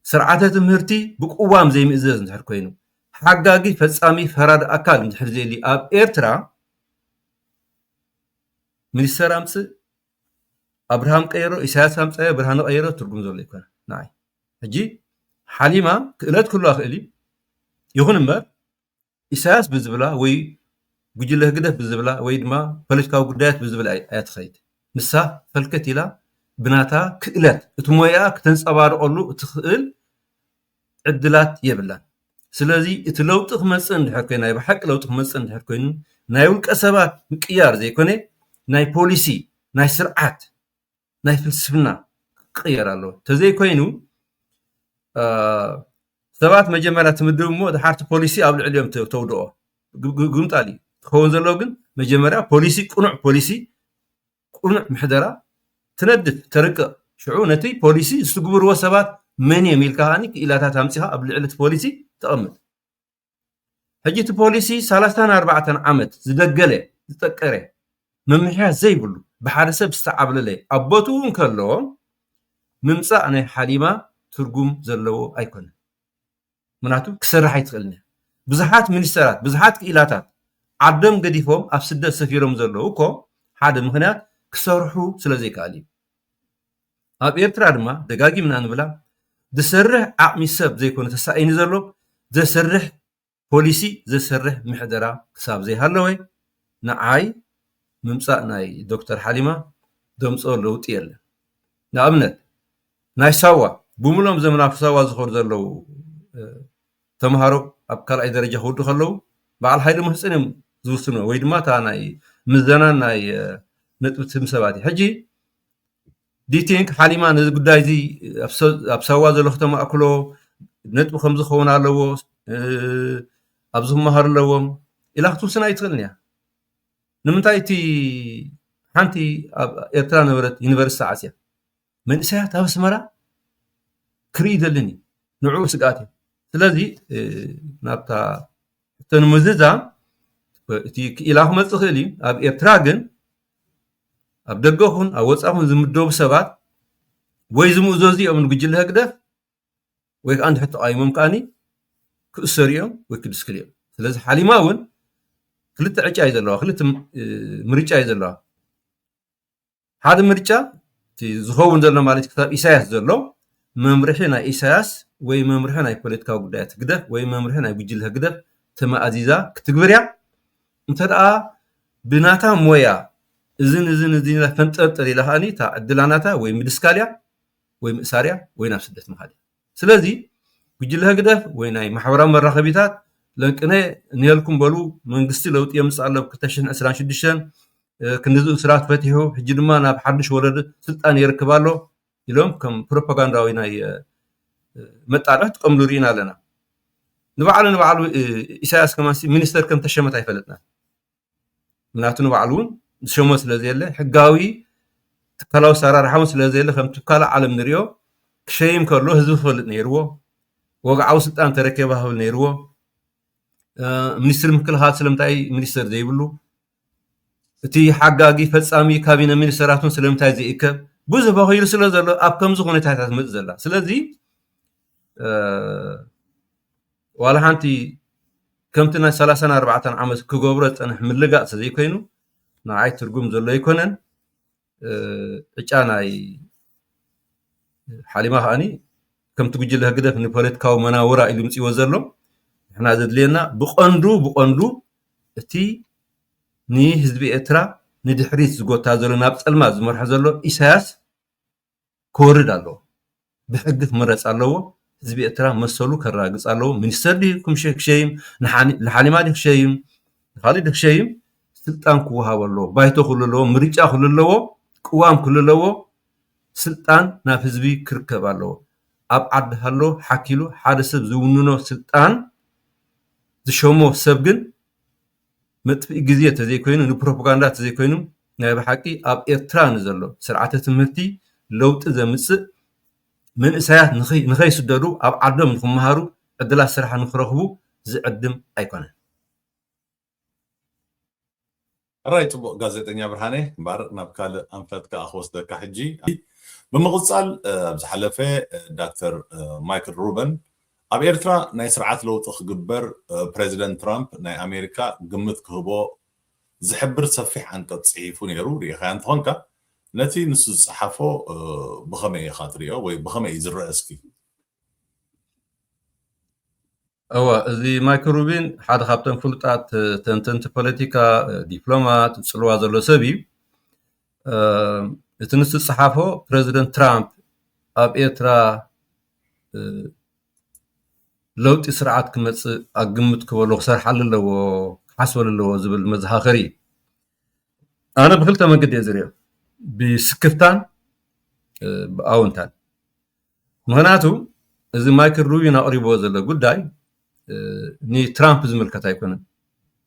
ስርዓተ ትምህርቲ ብቅዋም ዘይምእዘዝ እንድሕር ኮይኑ፣ ሓጋጊ ፈጻሚ ፈራዲ ኣካል እንድሕር ዘየልዩ ኣብ ኤርትራ ሚኒስተር ኣምጽእ ኣብርሃም ቀይሮ ኢሳያስ ኣምጻዮ ብርሃነ ቀይሮ ትርጉም ዘሎ ኣይኮነን ንዓይ ሕጂ ሓሊማ ክእለት ክህልዋ ይኽእል እዩ ይኹን እምበር ኢሳያስ ብዝብላ ወይ ጉጅለ ህግደፍ ብዝብላ ወይ ድማ ፖለቲካዊ ጉዳያት ብዝብላ እያ ትኸይድ። ንሳ ፈልከት ኢላ ብናታ ክእለት እቲ ሞያኣ ክተንጸባርቐሉ እትኽእል ዕድላት የብላን። ስለዚ እቲ ለውጢ ክመጽእ እንድሕር ኮይኑ ናይ ብሓቂ ለውጢ ክመጽእ እንድሕር ኮይኑ ናይ ውልቀ ሰባት ምቅያር ዘይኮነ ናይ ፖሊሲ ናይ ስርዓት ናይ ፍልስፍና ክቅየር ኣለዎ ተዘይኮይኑ ሰባት መጀመርያ ትምድብ እሞ ድሓርቲ ፖሊሲ ኣብ ልዕሊኦም ተውድኦ ግምጣል እዩ ትኸውን ዘለዎ ግን መጀመርያ ፖሊሲ ቅኑዕ ፖሊሲ ቅኑዕ ምሕደራ ትነድፍ ተርቅቕ ሽዑ ነቲ ፖሊሲ ዝትግብርዎ ሰባት መን እዮም ኢልካ ከዓኒ ክኢላታት ኣምፂኻ ኣብ ልዕሊ እቲ ፖሊሲ ተቐምጥ ሕጂ እቲ ፖሊሲ ሰላሳን ኣርባዕተን ዓመት ዝደገለ ዝጠቀረ ምምሕያሽ ዘይብሉ ብሓደ ሰብ ዝተዓብለለ ኣብ ቦትኡ እንከሎ ምምጻእ ናይ ሓሊማ ትርጉም ዘለዎ ኣይኮነን ምክንያቱ ክሰርሕ ኣይትኽእልን እያ ብዙሓት ሚኒስተራት ብዙሓት ክኢላታት ዓዶም ገዲፎም ኣብ ስደት ሰፊሮም ዘለዉ እኮ ሓደ ምክንያት ክሰርሑ ስለ ዘይከኣል እዩ ኣብ ኤርትራ ድማ ደጋጊምና ንብላ ዝሰርሕ ዓቅሚ ሰብ ዘይኮነ ተሳኢኒ ዘሎ ዘሰርሕ ፖሊሲ ዘሰርሕ ምሕደራ ክሳብ ዘይሃለወ ንዓይ ምምጻእ ናይ ዶክተር ሓሊማ ዘምጽኦ ለውጢ የለን ንኣብነት ናይ ሳዋ ብምሉኦም ዘም ናብ ሳዋ ዝኸዱ ዘለዉ ተምሃሮ ኣብ ካልኣይ ደረጃ ክውዱ ከለዉ በዓል ሓይሊ ምህጽን እዮም ዝውስኑ ወይ ድማ እታ ናይ ምዘናን ናይ ነጥቢ ትም ሰባት እዩ ሕጂ ዲቲንክ ሓሊማ ነዚ ጉዳይ እዚ ኣብ ሳዋ ዘሎ ክተማእክሎ ነጥቢ ከምዚ ክኸውን ኣለዎ ኣብዚ ክመሃሩ ኣለዎም ኢላ ክትውስን ኣይትኽእልን እያ። ንምንታይ እቲ ሓንቲ ኣብ ኤርትራ ዝነበረት ዩኒቨርስቲ ተዓጽያ? መንእሰያት ኣብ ኣስመራ ክርኢ ይደልን እዩ። ንዕኡ ስግኣት እዩ። ስለዚ ናብታ ሕቶ ንምዝዛም እቲ ክኢላ ክመጽእ ይኽእል እዩ። ኣብ ኤርትራ ግን ኣብ ደገ ኹን ኣብ ወፃኢ ኹን ዝምደቡ ሰባት ወይ ዝምእዘዙ እዮም ንጉጅለ ህግደፍ ወይ ከዓ እንድሕር ተቃዊሞም ከዓኒ ክእሰሩ እዮም ወይ ክድስክሉ እዮም ስለዚ ሓሊማ እውን ክልተ ዕጫ እዩ ዘለዋ ክልተ ምርጫ እዩ ዘለዋ ሓደ ምርጫ እቲ ዝኸውን ዘሎ ማለት ክሳብ ኢሳያስ ዘሎ መምርሒ ናይ ኢሳያስ ወይ መምርሒ ናይ ፖለቲካዊ ጉዳያት ህግደፍ ወይ መምርሒ ናይ ጉጅለ ህግደፍ ተመኣዚዛ ክትግብር እያ እንተደኣ ብናታ ሞያ እዝን እዝን እዝን ኢላ ፈንጠርጥር ኢላ ከኣ እታ ዕድላ ናታ ወይ ምድስካል እያ ወይ ምእሳር እያ ወይ ናብ ስደት ምኻድ እያ። ስለዚ ጉጅለ ህግደፍ ወይ ናይ ማሕበራዊ መራኸቢታት ለንቅነ ንየልኩም በሉ መንግስቲ ለውጢ የምጽእ ኣሎ ብ ክልተ ሽሕን ዕስራን ሽዱሽተን ክንድዚ እሱራት ፈቲሑ ሕጂ ድማ ናብ ሓዱሽ ወለዶ ስልጣን የርክብ ኣሎ ኢሎም ከም ፕሮፓጋንዳዊ ናይ መጣርሒ ክጥቀምሉ ርኢና ኣለና ንባዕሉ ንባዕሉ ኢሳያስ ከማን ሚኒስተር ከም ተሸመት ኣይፈለጥናን ምክንያቱ ንባዕሉ እውን ዝሸሞ ስለ ዘየለ ሕጋዊ ትካላዊ ኣሰራርሓ እውን ስለ ዘየለ ከምቲ ካልእ ዓለም ንሪኦ ክሸይም ከሎ ህዝቢ ክፈልጥ ነይርዎ ወግዓዊ ስልጣን ተረከበ ክብል ነይርዎ ሚኒስትሪ ምክልኻል ስለምንታይ ሚኒስተር ዘይብሉ እቲ ሓጋጊ ፈጻሚ ካቢነ ሚኒስተራት'ውን ስለምንታይ ዘይእከብ ብዙሕ በኺሉ ስለ ዘሎ ኣብ ከምዚ ኩነታት እያ ትመጽእ ዘላ ስለዚ ዋላ ሓንቲ ከምቲ ናይ ሰላሳን ኣርባዕተን ዓመት ክገብሮ ዝጸንሐ ምልጋጽ ዘይኮይኑ ንዓይ ትርጉም ዘሎ ኣይኮነን ዕጫ ናይ ሓሊማ ከዓኒ ከምቲ ጉጅለ ህግደፍ ንፖለቲካዊ መናውራ ኢሉ ምፅዎ ዘሎ ንሕና ዘድልየና ብቐንዱ ብቐንዱ እቲ ንህዝቢ ኤርትራ ንድሕሪት ዝጎታ ዘሎ ናብ ፀልማት ዝመርሖ ዘሎ ኢሳያስ ክወርድ ኣለዎ ብሕጊ ክምረጽ ኣለዎ ህዝቢ ኤርትራ መሰሉ ከራግጽ ኣለዎ ሚኒስተር ድዩ ክሸይም ንሓሊማ ድዩ ክሸይም ንኻልእ ድዩ ክሸይም ስልጣን ክወሃቦ ኣለዎ ባይቶ ክህሉ ኣለዎ ምርጫ ክህሉ ኣለዎ ቅዋም ክህሉ ኣለዎ ስልጣን ናብ ህዝቢ ክርከብ ኣለዎ ኣብ ዓዲ ሃሎ ሓኪሉ ሓደ ሰብ ዝውንኖ ስልጣን ዝሸሞ ሰብ ግን መጥፍኢ ግዜ ተዘይኮይኑ ንፕሮፖጋንዳ ተዘይኮይኑ ናይ ብሓቂ ኣብ ኤርትራ ንዘሎ ስርዓተ ትምህርቲ ለውጢ ዘምጽእ መንእሰያት ንኸይስደዱ ኣብ ዓዶም ንኽመሃሩ ዕድላት ስራሕ ንኽረኽቡ ዝዕድም ኣይኮነን። ሕራይ ጽቡቅ ጋዜጠኛ ብርሃነ እምበር ናብ ካልእ ኣንፈት ከኣ ክወስደካ ሕጂ። ብምቅጻል ኣብ ዝሓለፈ ዳክተር ማይክል ሩበን ኣብ ኤርትራ ናይ ስርዓት ለውጢ ክግበር ፕረዚደንት ትራምፕ ናይ ኣሜሪካ ግምት ክህቦ ዝሕብር ሰፊሕ ዓንቀጽ ጽሒፉ ነይሩ ርኢኻያ እንተኾንካ ነቲ ንሱ ዝጸሓፎ ብኸመይ ኢኻ ትሪኦ ወይ ብኸመይ እዩ ዝረአ እስኪ እወ እዚ ማይክ ሩቢን ሓደ ካብቶም ፍሉጣት ተንተንቲ ፖለቲካ ዲፕሎማት ፅልዋ ዘሎ ሰብ እዩ እቲ ንሱ ዝፀሓፎ ፕረዚደንት ትራምፕ ኣብ ኤርትራ ለውጢ ስርዓት ክመፅእ ኣብ ግምት ክበሎ ክሰርሓሉ ኣለዎ ክሓስበሉ ኣለዎ ዝብል መዘኻኸሪ እዩ ኣነ ብክልተ መንገዲ እየ ዝሪኦ ብስክፍታን ብኣውንታን ምክንያቱ እዚ ማይክል ሩቢን ኣቕሪብዎ ዘሎ ጉዳይ ንትራምፕ ዝምልከት ኣይኮነን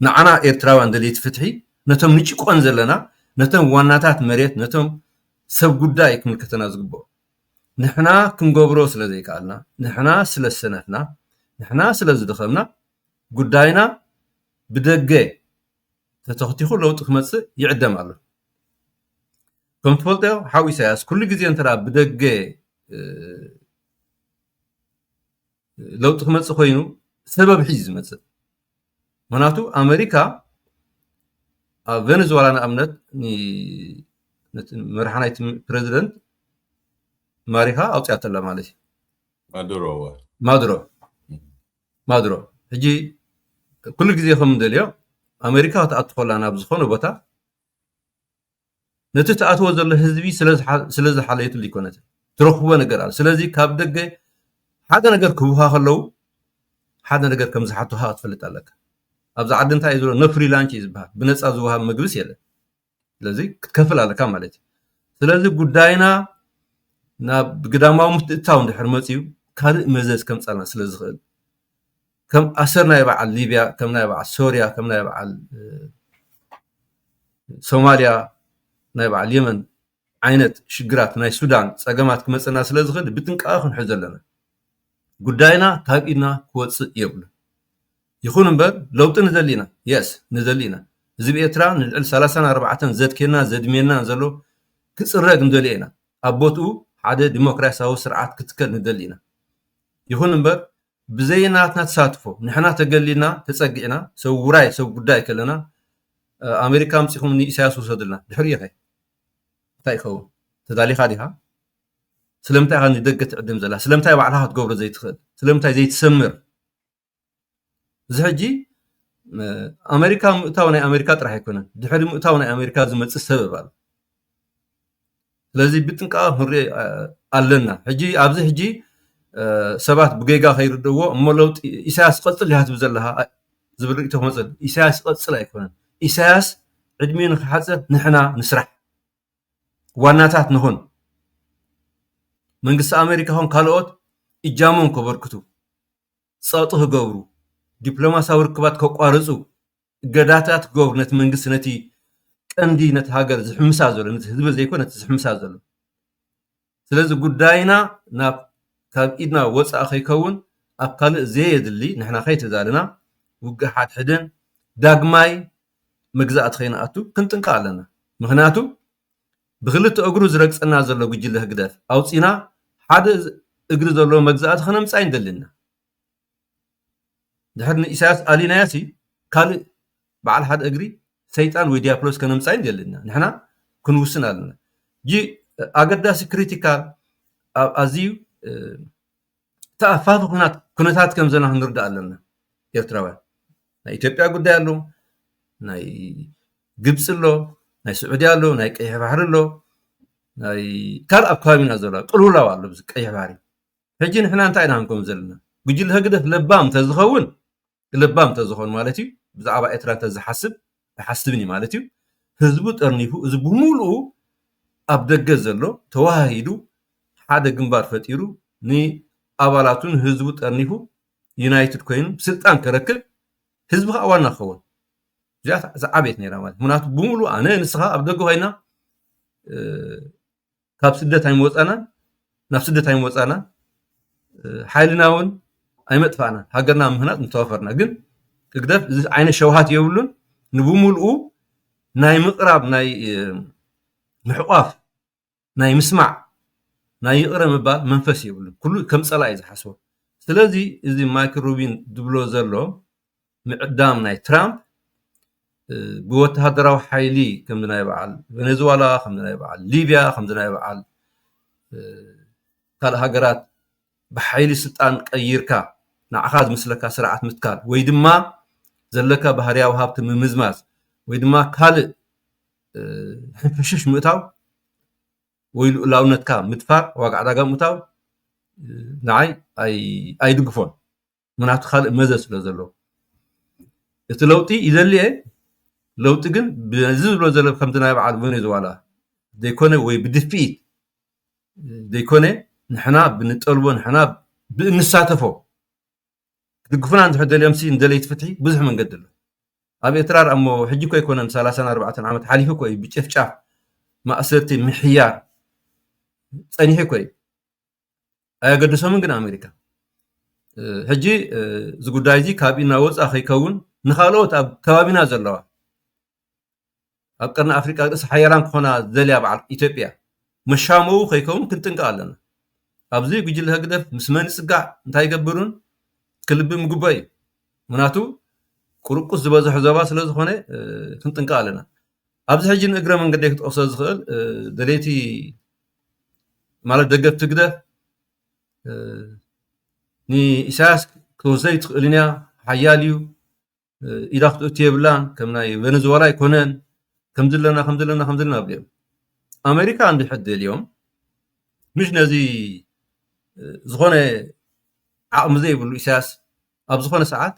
ንዓና ኤርትራውያን ደለይቲ ፍትሒ ነቶም ንጭቆን ዘለና ነቶም ዋናታት መሬት ነቶም ሰብ ጉዳይ ክምልከተና ዝግብኦ ንሕና ክንገብሮ ስለ ዘይከኣልና፣ ንሕና ስለ ዝሰነፍና፣ ንሕና ስለ ዝደኸምና ጉዳይና ብደገ ተተኽቲኹ ለውጢ ክመጽእ ይዕደም ኣሎ። ከም ትፈልጦ ሓው ኢሳያስ ኩሉ ግዜ እንተ ብደገ ለውጢ ክመጽእ ኮይኑ ሰበብ ሒዙ ዝመጽእ ምክንያቱ ኣመሪካ ኣብ ቨነዝወላ ንኣብነት መራሒ ናይቲ ፕረዚደንት ማሪኻ ኣውፂኣቶ ኣላ ማለት እዩ ማዱሮ ማዱሮ ሕጂ ኩሉ ግዜ ከም ንደልዮ ኣመሪካ ክትኣቱ ከላ ናብ ዝኾነ ቦታ ነቲ ትኣትዎ ዘሎ ህዝቢ ስለ ዝሓለየትሉ ኣይኮነትን ትረኽቦ ነገር ኣሎ ስለዚ ካብ ደገ ሓደ ነገር ክህቡኻ ከለዉ ሓደ ነገር ከም ዝሓቱኻ ክትፈልጥ ኣለካ ኣብዚ ዓዲ እንታይ እዩ ዘሎ ኖ ፍሪላንች እዩ ዝበሃል ብነፃ ዝወሃብ ምግብስ የለን ስለዚ ክትከፍል ኣለካ ማለት እዩ ስለዚ ጉዳይና ናብ ግዳማዊ ምትእትታው እንድሕር መፅዩ ካልእ መዘዝ ከምፃልና ስለ ዝኽእል ከም ኣሰር ናይ በዓል ሊብያ ከም ናይ በዓል ሶርያ ከም ናይ በዓል ሶማልያ ናይ በዓል የመን ዓይነት ሽግራት ናይ ሱዳን ፀገማት ክመፅና ስለ ዝኽእል ብጥንቃቐ ክንሕዞ ኣለና። ጉዳይና ካብ ኢድና ክወፅእ የብሉን። ይኹን እምበር ለውጢ ንደሊ ኢና የስ ንደሊ ኢና ህዝቢ ኤርትራ ንልዕሊ ሰላሳን ኣርባዕተን ዘድኬናን ዘድሜናን ዘሎ ክፅረግ ንደልዮ ኢና ኣብ ቦትኡ ሓደ ዲሞክራሲያዊ ስርዓት ክትከል ንደሊ ኢና ይኹን እምበር ብዘይ ናትና ተሳትፎ ንሕና ተገሊልና ተጸጊዕና ሰብ ውራይ ሰብ ጉዳይ ከለና ኣሜሪካ ኣምጺኹም ንኢሳያስ ውሰዱልና ድሕሪኡ ከ እንታይ ይኸውን ተዳሊኻ ዲኻ ስለምንታይ ኢኻ ንደገ ትዕድም ዘላ ስለምንታይ ባዕልኻ ክትገብሮ ዘይትኽእል ስለምንታይ ዘይትሰምር እዚ ሕጂ ኣሜሪካ ምእታው ናይ ኣሜሪካ ጥራሕ ኣይኮነን ድሕሪ ምእታው ናይ ኣሜሪካ ዝመፅእ ሰበብ ኣሎ ስለዚ ብጥንቃቐ ክንሪኦ ኣለና። ሕጂ ኣብዚ ሕጂ ሰባት ብጌጋ ከይርድእዎ እሞ ለውጢ ኢሳያስ ይቐጽል ዲኻ ትብል ዘለኻ ዝብል ርእይቶ ክመጽእ ኢሳያስ ይቐጽል ኣይኮነን። ኢሳያስ ዕድሚኡ ንክሓጽር ንሕና ንስራሕ፣ ዋናታት ንኹን፣ መንግስቲ ኣመሪካ ይኹን ካልኦት እጃሞም ከበርክቱ፣ ጸቕጢ ክገብሩ፣ ዲፕሎማስያዊ ርክባት ከቋርጹ፣ እገዳታት ገብሩ ነቲ መንግስቲ ነቲ ቀንዲ ነቲ ሃገር ዝሕምሳ ዘሎ ነቲ ህዝቢ ዘይኮ ነቲ ዝሕምሳ ዘሎ ስለዚ ጉዳይና ናብ ካብ ኢድና ወፃእ ከይከውን ኣብ ካልእ ዘየድሊ ንሕና ከይተዛልና ውግእ ሓድሕድን ዳግማይ መግዛእቲ ከይንኣቱ ክንጥንቀቕ ኣለና ምክንያቱ ብክልተ እግሩ ዝረግፀና ዘሎ ጉጅለ ህግደፍ ኣውፂና ሓደ እግሪ ዘለዎ መግዛእቲ ከነምፃ ይንደሊ ኢና ድሕሪ ንኢሳያስ ኣሊናዮሲ ካልእ በዓል ሓደ እግሪ ሰይጣን ወይ ድያብሎስ ከነምጻዩ የድልየና። ንሕና ክንውስን ኣለና። ሕጂ ኣገዳሲ ክሪቲካል ኣብ ኣዝዩ ተኣፋፊ ኩናት ኩነታት ከም ዘለና ክንርዳእ ኣለና ኤርትራውያን። ናይ ኢትዮጵያ ጉዳይ ኣሎ፣ ናይ ግብጺ ኣሎ፣ ናይ ስዑድያ ኣሎ፣ ናይ ቀይሕ ባሕሪ ኣሎ፣ ናይ ካልእ ኣብ ከባቢና ዘሎ ቅልውላው ኣሎ ኣብዚ ቀይሕ ባሕሪ። ሕጂ ንሕና እንታይ ኢና ክንከውን ዘለና ጉጅለ ህግደፍ ለባም ተዝኸውን ለባም ተዝኾን ማለት እዩ ብዛዕባ ኤርትራ ተዝሓስብ ኣይሓስብን እዩ ማለት እዩ ህዝቡ ጠርኒፉ እዚ ብምሉኡ ኣብ ደገ ዘሎ ተዋሃሂዱ ሓደ ግንባር ፈጢሩ ንኣባላቱን ህዝቡ ጠርኒፉ ዩናይትድ ኮይኑ ስልጣን ከረክብ ህዝቢ ከዓ ዋና ክኸውን እዚኣ ዝዓበየት ነይራ ማለት ምክንያቱ ብምሉ ኣነ ንስኻ ኣብ ደገ ኮይና ካብ ስደት ኣይምወፃእናን ናብ ስደት ኣይምወፃእናን ሓይልና እውን ኣይመጥፋእናን ሃገርና ምህናፅ ምተዋፈርና ግን ህግደፍ እዚ ዓይነት ሸውሃት የብሉን ንብምልኡ ናይ ምቕራብ ናይ ምሕቋፍ ናይ ምስማዕ ናይ ይቕረ ምባል መንፈስ የብሉን ኩሉ ከም ፀላእ እዩ ዝሓስቦ ስለዚ እዚ ማይክል ሩቢን ዝብሎ ዘሎ ምዕዳም ናይ ትራምፕ ብወተሃደራዊ ሓይሊ ከምዚ ናይ በዓል ቬነዝዋላ ከምዚ ናይ በዓል ሊብያ ከምዚ ናይ በዓል ካልእ ሃገራት ብሓይሊ ስልጣን ቀይርካ ንዓኻ ዝምስለካ ስርዓት ምትካል ወይ ድማ ዘለካ ባህርያዊ ሃብቲ ምምዝማዝ ወይ ድማ ካልእ ሕንፍሽሽ ምእታው ወይ ልኡላውነትካ ምድፋር ዋጋ ዕዳጋ ምእታው ንዓይ ኣይድግፎን ምክንያቱ ካልእ መዘዝ ስለ ዘሎ እቲ ለውጢ ይደሊ እየ ለውጢ ግን በዚ ዝብሎ ዘሎ ከምቲ ናይ በዓል ቬኔዙዋላ ዘይኮነ ወይ ብድፍኢት ዘይኮነ ንሕና ብንጠልቦ ንሕና ብእንሳተፎ ክድግፉና እንድሕር ደልዮምሲ ንደለይቲ ፍትሒ ብዙሕ መንገዲ ኣሎ ኣብ ኤርትራ ርኣ እሞ ሕጂ እኮ ኣይኮነን ሰላሳን ኣርባዕተን ዓመት ሓሊፉ እኮ እዩ ብጭፍጫፍ ማእሰርቲ ምሕያር ጸኒሑ እኮ እዩ ኣየገደሶምን ግን ኣሜሪካ ሕጂ እዚ ጉዳይ እዚ ካብ ኢድና ወፃእ ከይከውን ንካልኦት ኣብ ከባቢና ዘለዋ ኣብ ቀርኒ ኣፍሪቃ ርእሲ ሓያላን ክኾና ዘልያ በዓል ኢትዮጵያ መሻመው ከይከውን ክንጥንቀቕ ኣለና ኣብዚ ጉጅለ ህግደፍ ምስ መን ይፅጋዕ እንታይ ይገብሩን ክልቢ ምጉበ እዩ ምክንያቱ ቁርቁስ ዝበዝሖ ዘባ ስለ ዝኾነ ክንጥንቀቕ ኣለና ኣብዚ ሕጂ ንእግረ መንገደይ ክጠቕሶ ዝኽእል ደለይቲ ማለት ደገፍቲ ህግደፍ ንኢሳያስ ክትወስዶ ኣይትኽእልን እያ ሓያል እዩ ኢዳ ክትእቱ የብላን ከም ናይ ቬነዝዋላ ኣይኮነን ከምዚ ኣለና ከምዚ ኣለና ከምዚ ኣለና ኣብሎም ኣሜሪካ እንድሕር ደልዮም ምሽ ነዚ ዝኾነ ዓቕሚ ዘይብሉ ኢሳያስ ኣብ ዝኾነ ሰዓት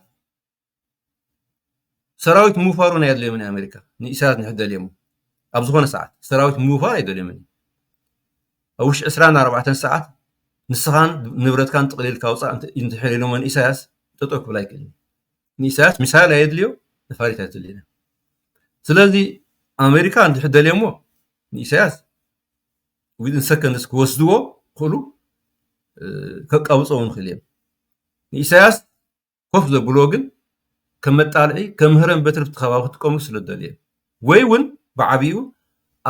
ሰራዊት ምውፋር እውን ኣየድልዮምን እዩ ኣሜሪካ ንኢሳያስ ንክደልየሞ ኣብ ዝኾነ ሰዓት ሰራዊት ምውፋር ኣይደልዮምን እዩ ኣብ ውሽጢ ዕስራን ኣርባዕተን ሰዓት ንስኻን ንብረትካን ጥቕሊልካ ውፃእ እንድሕር ኢሎሞ ንኢሳያስ ጠጠው ክብል ኣይክእልን ንኢሳያስ ሚሳይል ኣየድልዮ ነፋሪት ኣይትልዮ ስለዚ ኣሜሪካ እንድሕር ደልዮሞ ንኢሳያስ ዊድን ሰከንድስ ክወስድዎ ክእሉ ከቃብፀው ንክእል እዮም ንኢሳያስ ኮፍ ዘብልዎ ግን ከም መጣልዒ ከም ህረም በትሪ ኣብቲ ከባቢ ክጥቀምሉ ስለ ዝደልየ ወይ ውን ብዓቢኡ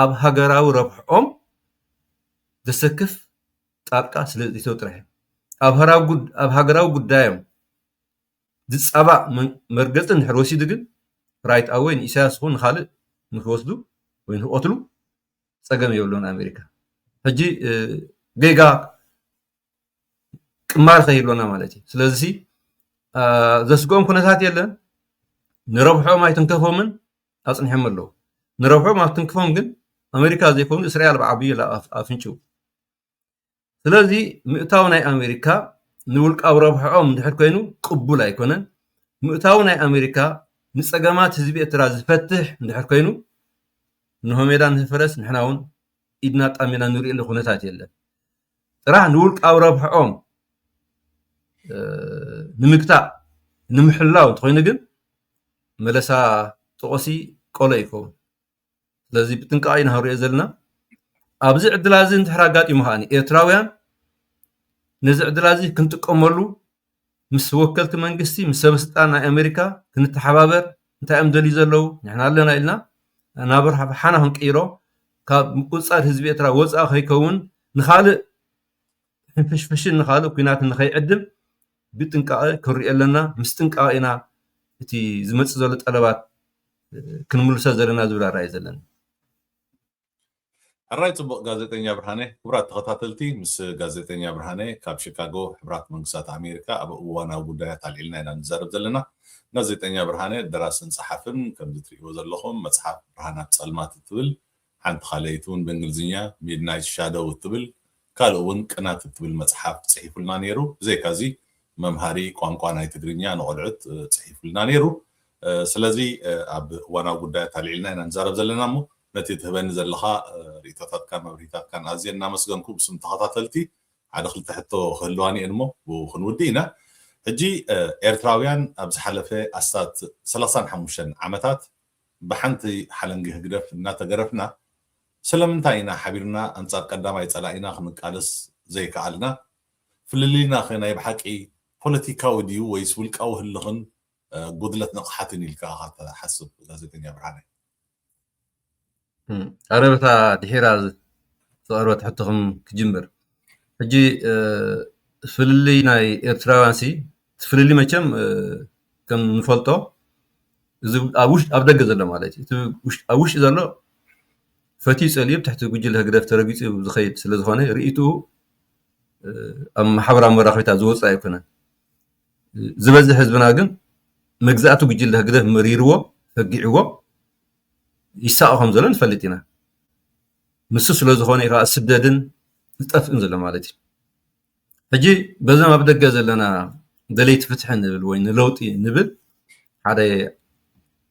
ኣብ ሃገራዊ ረብሕኦም ዘሰክፍ ጣልቃ ስለ ዝእተው ጥራሕ እዩ። ኣብ ሃገራዊ ጉዳዮም ዝጻባእ መርገጺ እንድሕር ወሲዱ ግን ራይት ኣወይ ንኢሳያስ ይኹን ንኻልእ ንክወስዱ ወይ ንክቐትሉ ጸገም የብሎምን ኣሜሪካ። ሕጂ ጌጋ ቅማል ከይህልወና ማለት እዩ ስለዚ ዘስግኦም ኩነታት የለን ንረብሖኦም ኣይትንከፎምን ኣፅኒሖም ኣለዉ ንረብሖም ኣብትንክፎም ግን ኣሜሪካ ዘይኮኑ እስራኤል ብዓብዩ ኣፍንጭው ስለዚ ምእታው ናይ ኣሜሪካ ንውልቃዊ ረብሖኦም እንድሕር ኮይኑ ቅቡል ኣይኮነን ምእታው ናይ ኣሜሪካ ንፀገማት ህዝቢ ኤርትራ ዝፈትሕ እንድሕር ኮይኑ ንሆሜዳ ንህፈረስ ንሕና እውን ኢድና ጣሚና ንሪእሉ ኩነታት የለን ጥራሕ ንውልቃዊ ረብሕኦም ንምግታእ ንምሕላው እንተኾይኑ ግን መለሳ ጦቖሲ ቆሎ እዩ ክኸውን። ስለዚ ብጥንቃቐ ኢና ክንሪኦ ዘለና። ኣብዚ ዕድላዚ እንድሕር ኣጋጢሙ ከኣኒ ኤርትራውያን ነዚ ዕድላዚ ክንጥቀመሉ ምስ ወከልቲ መንግስቲ ምስ ሰበስልጣን ናይ ኣሜሪካ ክንተሓባበር እንታይ እዮም ደልዩ ዘለው ንሕና ኣለና ኢልና ናብ ረብሓና ክንቅይሮ ካብ ምቁፅፃር ህዝቢ ኤርትራ ወፃኢ ከይከውን ንኻልእ ሕንፍሽፍሽን ንኻልእ ኩናትን ንኸይዕድም ብጥንቃቐ ክንሪኦ ኣለና ምስ ጥንቃቐ ኢና እቲ ዝመፅእ ዘሎ ጠለባት ክንምልሶ ዘለና ዝብል ኣረኣእያ እዩ ዘለኒ። ሕራይ ጽቡቅ ጋዜጠኛ ብርሃነ ክብራት ተኸታተልቲ ምስ ጋዜጠኛ ብርሃነ ካብ ሽካጎ ሕብራት መንግስታት ኣሜሪካ ኣብ እዋናዊ ጉዳያት ኣልዒልና ኢና ንዛረብ ዘለና ጋዜጠኛ ብርሃነ ደራስን ጸሓፍን ከምዚ ትርእይዎ ዘለኹም መጽሓፍ ብርሃናት ጸልማት እትብል ሓንቲ ካልኣይቲ ውን ብእንግሊዝኛ Midnight Shadow እትብል ካልእ እውን ቅናት እትብል መጽሓፍ ጽሒፉልና ነይሩ። ብዘይካዚ መምሃሪ ቋንቋ ናይ ትግርኛ ንቖልዑት ጽሒፉልና ነይሩ። ስለዚ ኣብ እዋናዊ ጉዳያት ኣልዒልና ኢና ንዛረብ ዘለና እሞ ነቲ ትህበኒ ዘለኻ ርኢቶታትካን መብርሂታትካን ኣዝየ እናመስገንኩ ብስም ተኸታተልቲ ሓደ ክልተ ሕቶ ክህልዋኒ እየን እሞ ብኡ ክንውድእ ኢና። ሕጂ ኤርትራውያን ኣብ ዝሓለፈ ኣስታት ሰላሳን ሓሙሽተን ዓመታት ብሓንቲ ሓለንጊ ህግደፍ እናተገረፍና ስለምንታይ ኢና ሓቢርና ኣንጻር ቀዳማይ ጸላኢና ክንቃለስ ዘይከኣልና? ፍልልይናኸ ናይ ብሓቂ ፖለቲካዊ ድዩ ወይስ ውልቃዊ ህልኽን ጉድለት ንቕሓትን ኢልካ ኢኻ ትሓስብ ጋዜጠኛ ብርሃነ? ኣረ በታ ድሒራ ዝቐርበት ሕቶኹም ክጅምር። ሕጂ ፍልልይ ናይ ኤርትራውያንሲ እቲ ፍልልይ መቸም ከም እንፈልጦ እዚ ኣብ ደገ ዘሎ ማለት እዩ። እቲ ኣብ ውሽጢ ዘሎ ፈትዩ ጸልዩ ኣብ ትሕቲ ጉጅለ ህግደፍ ተረጊጹ ዝኸይድ ስለ ዝኾነ ርእይትኡ ኣብ ማሕበራዊ መራኸቢታት ዝወጽእ ኣይኮነን። ዝበዝሕ ህዝብና ግን መግዛእቲ ጉጅለ ህግደፍ መሪርዎ ፈጊዕዎ ይሳቐ ከም ዘሎ ንፈልጥ ኢና። ንሱ ስለ ዝኾነ እዩ ከኣ ስደድን ጠፍእን ዘሎ ማለት እዩ። ሕጂ በዞም ኣብ ደገ ዘለና ደለይቲ ፍትሒ ንብል ወይ ንለውጢ ንብል ሓደ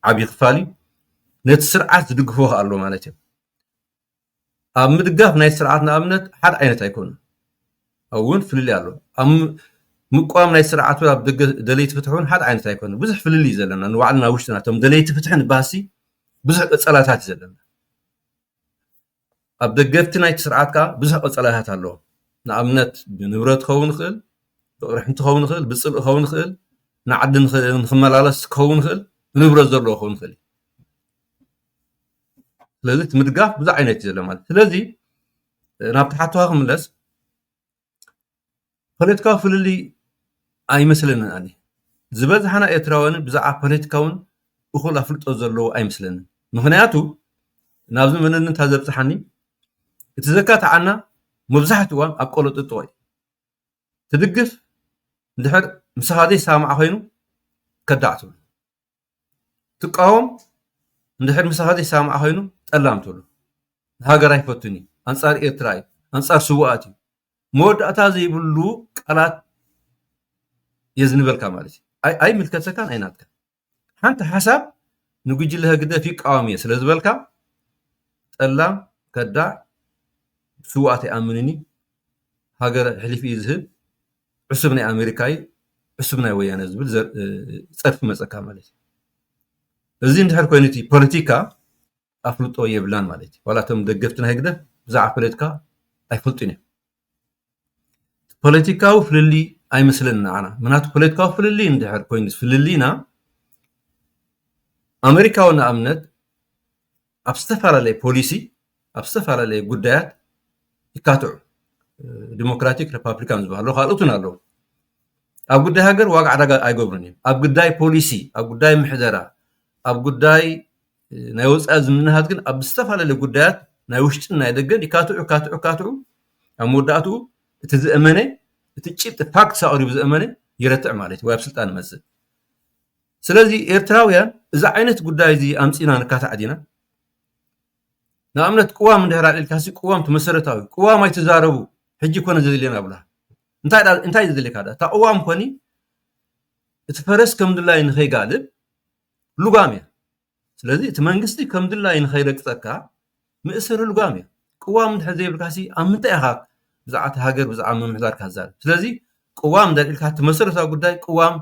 ዓብዪ ክፋል እዩ ነቲ ስርዓት ዝድግፎ ከዓ ኣሎ ማለት እዩ ኣብ ምድጋፍ ናይ ስርዓት ንኣብነት ሓደ ዓይነት ኣይኮኑ እውን ፍልልይ ኣሎ ኣብ ምቋም ናይ ስርዓት ኣብ ደገ ደለይቲ ፍትሒ እውን ሓደ ዓይነት ኣይኮኑ ብዙሕ ፍልልይ እዩ ዘለና ንባዕልና ውሽጥና እቶም ደለይቲ ፍትሒ ንባሃሲ ብዙሕ ቀፀላታት እዩ ዘለና ኣብ ደገፍቲ ናይቲ ስርዓት ከኣ ብዙሕ ቀጸላታት ኣለዎም። ንኣብነት ብንብረት ክኸውን ይኽእል፣ ብቕርሕንቲ ክኸውን ይኽእል፣ ብጽልኢ ክኸውን ይኽእል፣ ንዓዲ ንኽመላለስ ክኸውን ይኽእል፣ ብንብረት ዘለዎ ክኸውን ይኽእል እዩ። ስለዚ እቲ ምድጋፍ ብዙሕ ዓይነት እዩ ዘሎ ማለት እዩ። ስለዚ ናብቲ ሓቶኻ ክምለስ ፖለቲካዊ ፍልልይ ኣይመስለንን ኣነ ዝበዝሓና ኤርትራውያን ብዛዕባ ፖለቲካ ውን እኹል ኣፍልጦ ዘለዎ ኣይመስለንን ምኽንያቱ ናብዚ መንነት ዘብጽሓኒ እቲ ዘካትዓና መብዛሕትኡ እዋን ኣብ ቆሎጥጦ እዩ ትድግፍ ድሕር ምሳኻ ዘይሰማማዕ ኮይኑ ከዳዕ ትብሎ። ትቃወም እንድሕር ምሳኻ ዘይሰማማዕ ኮይኑ ጠላም ትብሎ ንሃገር ኣይፈቱን እዩ ኣንጻር ኤርትራ እዩ ኣንጻር ስውኣት እዩ መወዳእታ ዘይብሉ ቃላት የዝንበልካ ማለት እዩ ኣይ- ኣይምልከተካን ኣይናትካ ሓንቲ ሓሳብ ንጉጅለ ህግደፍ ይቃወም እየ ስለ ዝበልካ ጠላም ከዳዕ ስውኣት ኣይኣምንን እዩ ሃገር ሕሊፍ እዩ ዝህብ ዕሱብ ናይ ኣሜሪካ እዩ ዕሱብ ናይ ወያነ እዩ ዝብል ፀርፊ ይመፀካ ማለት እዩ። እዚ እንድሕር ኮይኑ እቲ ፖለቲካ ኣፍልጦ የብላን ማለት እዩ። ዋላ እቶም ደገፍቲ ናይ ህግደፍ ብዛዕባ ፖለቲካ ኣይፈልጡን እዮም። ፖለቲካዊ ፍልልይ ኣይመስለንን ንዓና ምክንያቱ ፖለቲካዊ ፍልልይ እንድሕር ኮይኑ ፍልልይና ኣሜሪካዊ ንኣብነት ኣብ ዝተፈላለየ ፖሊሲ ኣብ ዝተፈላለየ ጉዳያት ይካትዑ ዲሞክራቲክ ሪፓብሊካን ዝበሃሉ ካልኦትን ኣለዉ ኣብ ጉዳይ ሃገር ዋጋ ዕዳጋ ኣይገብሩን እዮም ኣብ ጉዳይ ፖሊሲ ኣብ ጉዳይ ምሕደራ ኣብ ጉዳይ ናይ ወፃኢ ዝምንሃት ግን ኣብ ዝተፈላለየ ጉዳያት ናይ ውሽጥን ናይ ደገን ይካትዑ ካትዑ ካትዑ ኣብ መወዳእትኡ እቲ ዝእመነ እቲ ጭብጢ ፋክት ኣቕሪቡ ዝእመነ ይረትዕ ማለት እዩ ወይ ኣብ ስልጣን ይመፅእ ስለዚ ኤርትራውያን እዚ ዓይነት ጉዳይ እዚ ኣምጺና ንካታዕ ዲና ንኣብነት ቅዋም እንድሕር ኣልዒልካሲ ቅዋም እቲ መሰረታዊ ቅዋም ኣይትዛረቡ ሕጂ ኮነ ዘድልየና ብላ እንታይ ዘድልየካ እታ ቅዋም ኮኒ እቲ ፈረስ ከም ድላይ ንኸይጋልብ ልጓም እያ ስለዚ እቲ መንግስቲ ከም ድላዩ ንኸይረግጸካ ምእስር ልጓም እዩ። ቅዋም እንድሕር ዘይብልካሲ ኣብ ምንታይ ኢኻ ብዛዕባ እታ ሃገር ብዛዕባ ምምሕዳር ካትዛረብ? ስለዚ ቅዋም እንድሕር ኢልካ እቲ መሰረታዊ ጉዳይ ቅዋም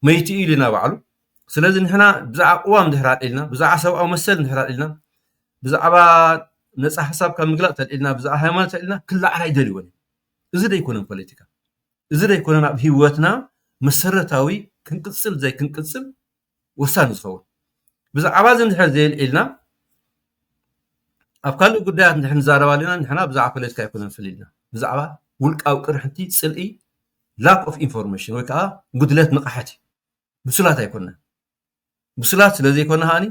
መይቱ እዩ ኢሉና ባዕሉ። ስለዚ ንሕና ብዛዕባ ቅዋም እንድሕር ኣልዒልና፣ ብዛዕባ ሰብኣዊ መሰል እንድሕር ኣልዒልና፣ ብዛዕባ ነጻ ሓሳብ ካብ ምግላጽ ተልዒልና፣ ብዛዕባ ሃይማኖት ተልዒልና ክለዓል ኣይደልዎን እዩ። እዚ ዶ ኣይኮነን ፖለቲካ? እዚ ዶ ኣይኮነን ኣብ ህይወትና መሰረታዊ ክንቅጽል ዘይክንቅጽል ወሳኒ ዝኸውን። ብዛዕባ እዚ እንድሕር ዘየልዒልና ኣብ ካልእ ጉዳያት እንድሕር ንዛረብ ኣለና ንሕና ብዛዕባ ፖለቲካ ኣይኮነን ፍልልይና ብዛዕባ ውልቃዊ ቅርሕንቲ ጽልኢ ላክ ኦፍ ኢንፎርሜሽን ወይ ከዓ ጉድለት ንቕሓት እዩ ብሱላት ኣይኮንና ብሱላት ስለ ዘይኮና ከዓኒ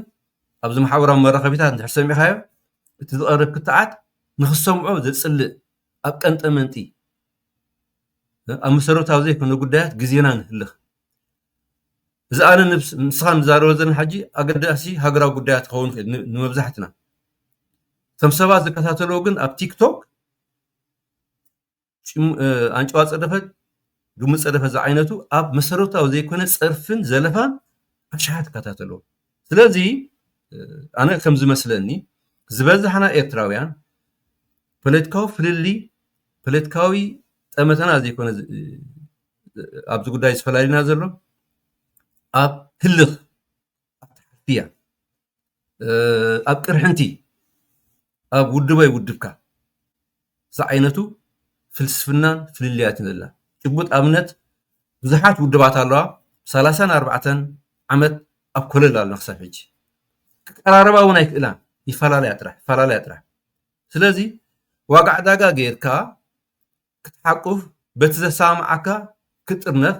ኣብዚ ማሕበራዊ መራኸቢታት እንድሕር ሰሚዕካዮ እቲ ዝቐርብ ክትዓት ንክሰምዖ ዘጽልእ ኣብ ቀንጠመንጢ ኣብ መሰረታዊ ዘይኮነ ጉዳያት ግዜና ንህልኽ እዚ ኣነ ንስኻ ንዛረቦ ዘለና ሕጂ ኣገዳሲ ሃገራዊ ጉዳያት ክኸውን ይኽእል ንመብዛሕትና እቶም ሰባት ዝከታተልዎ ግን ኣብ ቲክቶክ ኣንጨዋ ፀደፈ ግሙ ፀደፈ ዝዓይነቱ ኣብ መሰረታዊ ዘይኮነ ፀርፍን ዘለፋን ኣሽሓት ይከታተልዎ ስለዚ ኣነ ከም ዝመስለኒ ዝበዝሓና ኤርትራውያን ፖለቲካዊ ፍልልይ ፖለቲካዊ ጠመተና ዘይኮነ ኣብዚ ጉዳይ ዝፈላልየና ዘሎ ኣብ ህልኽ ኣተሓፍያ ኣብ ቅርሕንቲ ኣብ ውድብ ኣይውድብካ ዝዓይነቱ ፍልስፍናን ፍልልያትን ዘላ ጭቡጥ ኣብነት ብዙሓት ውድባት ኣለዋ ሰላሳን ኣርባዕተን ዓመት ኣብ ኮለል ኣለና ክሳብ ሕጂ ክቀራረባ እውን ኣይክእላን ይፈላለያ ጥራሕ ይፈላለያ ጥራሕ ስለዚ ዋጋ ዕዳጋ ጌርካ ክትሓቁፍ በቲ ዘሰማምዓካ ክትጥርነፍ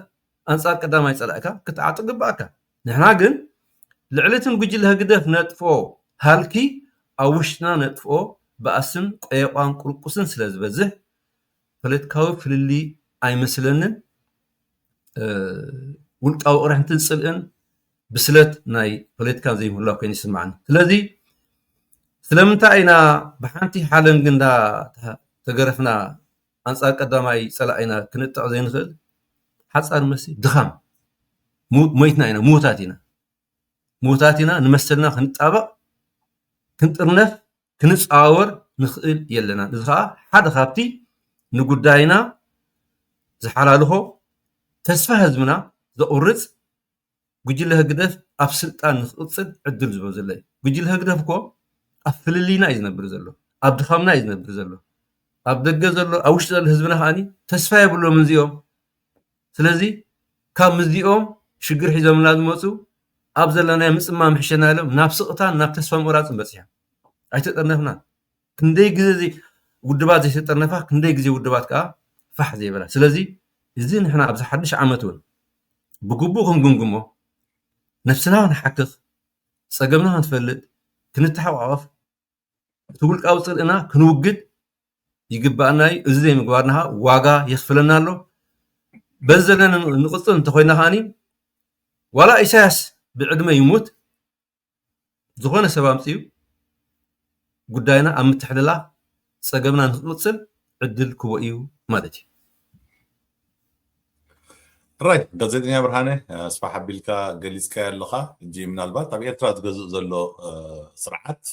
ኣንጻር ቀዳማይ ጸላኢካ ክትዓጥቕ ግብኣካ። ንሕና ግን ልዕሊ ትም ጉጅለ ህግደፍ ነጥፍኦ ሃልኪ ኣብ ውሽጥና ነጥፍኦ ባእስን ቆየቛን ቁርቁስን ስለ ዝበዝሕ ፖለቲካዊ ፍልልይ ኣይመስለንን ውልቃዊ ቅርሕንትን ጽልእን ብስለት ናይ ፖለቲካ ዘይብላ ኮይኑ ይስምዓኒ ስለዚ ስለምንታይ ኢና ብሓንቲ ሓለንጊ እንዳ ተገረፍና ኣንጻር ቀዳማይ ጸላኢና ክንጥዕ ዘይንኽእል ሓጻር መሲ ድኻም ሞይትና ኢና ምዉታት ኢና ምዉታት ኢና ንመሰልና ክንጣበቕ ክንጥርነፍ ክንጻወር ንኽእል የለና እዚ ከዓ ሓደ ካብቲ ንጉዳይና ዝሓላልኾ ተስፋ ህዝብና ዘቑርፅ ጉጅለ ህግደፍ ኣብ ስልጣን ንኽቕፅል ዕድል ዝህቦ ዘሎ እዩ። ጉጅለ ህግደፍ እኮ ኣብ ፍልልይና እዩ ዝነብር ዘሎ፣ ኣብ ድኻምና እዩ ዝነብር ዘሎ። ኣብ ደገ ዘሎ ኣብ ውሽጢ ዘሎ ህዝብና ከዓ ተስፋ የብሎምን እዚኦም። ስለዚ ካብ ምስዚኦም ሽግር ሒዞምልና ዝመፁ ኣብ ዘለናዮ ምፅማም ይሕሸና ኢሎም ናብ ስቕታን ናብ ተስፋ ምቑራፅን በፂሖም። ኣይተጠርነፍናን። ክንደይ ግዜ ውድባት ዘይተጠርነፋ ክንደይ ግዜ ውድባት ከኣ ፋሕ ዘይበላ ስለዚ እዚ ንሕና ኣብዚ ሓድሽ ዓመት እውን ብግቡእ ክንግምግሞ ነብስና ክንሓክኽ ጸገምና ክንፈልጥ ክንተሓቋቐፍ እቲ ውልቃዊ ጽልእና ክንውግድ ይግባኣና እዩ እዚ ዘይምግባርና ከዓ ዋጋ የኽፍለና ኣሎ በዚ ዘለና ንቕጽል እንተኮይና ከዓኒ ዋላ ኢሳያስ ብዕድመ ይሙት ዝኾነ ሰብ ኣምፅኡ ጉዳይና ኣብ ምትሕልላኽ ፀገምና ንክቕፅል ዕድል ክህቦ እዩ ማለት እዩ። ራይት ጋዜጠኛ ብርሃነ ኣስፋሕ ኣቢልካ ገሊፅካዮ ኣለኻ ሕጂ ምናልባት ኣብ ኤርትራ ዝገዝእ ዘሎ ስርዓት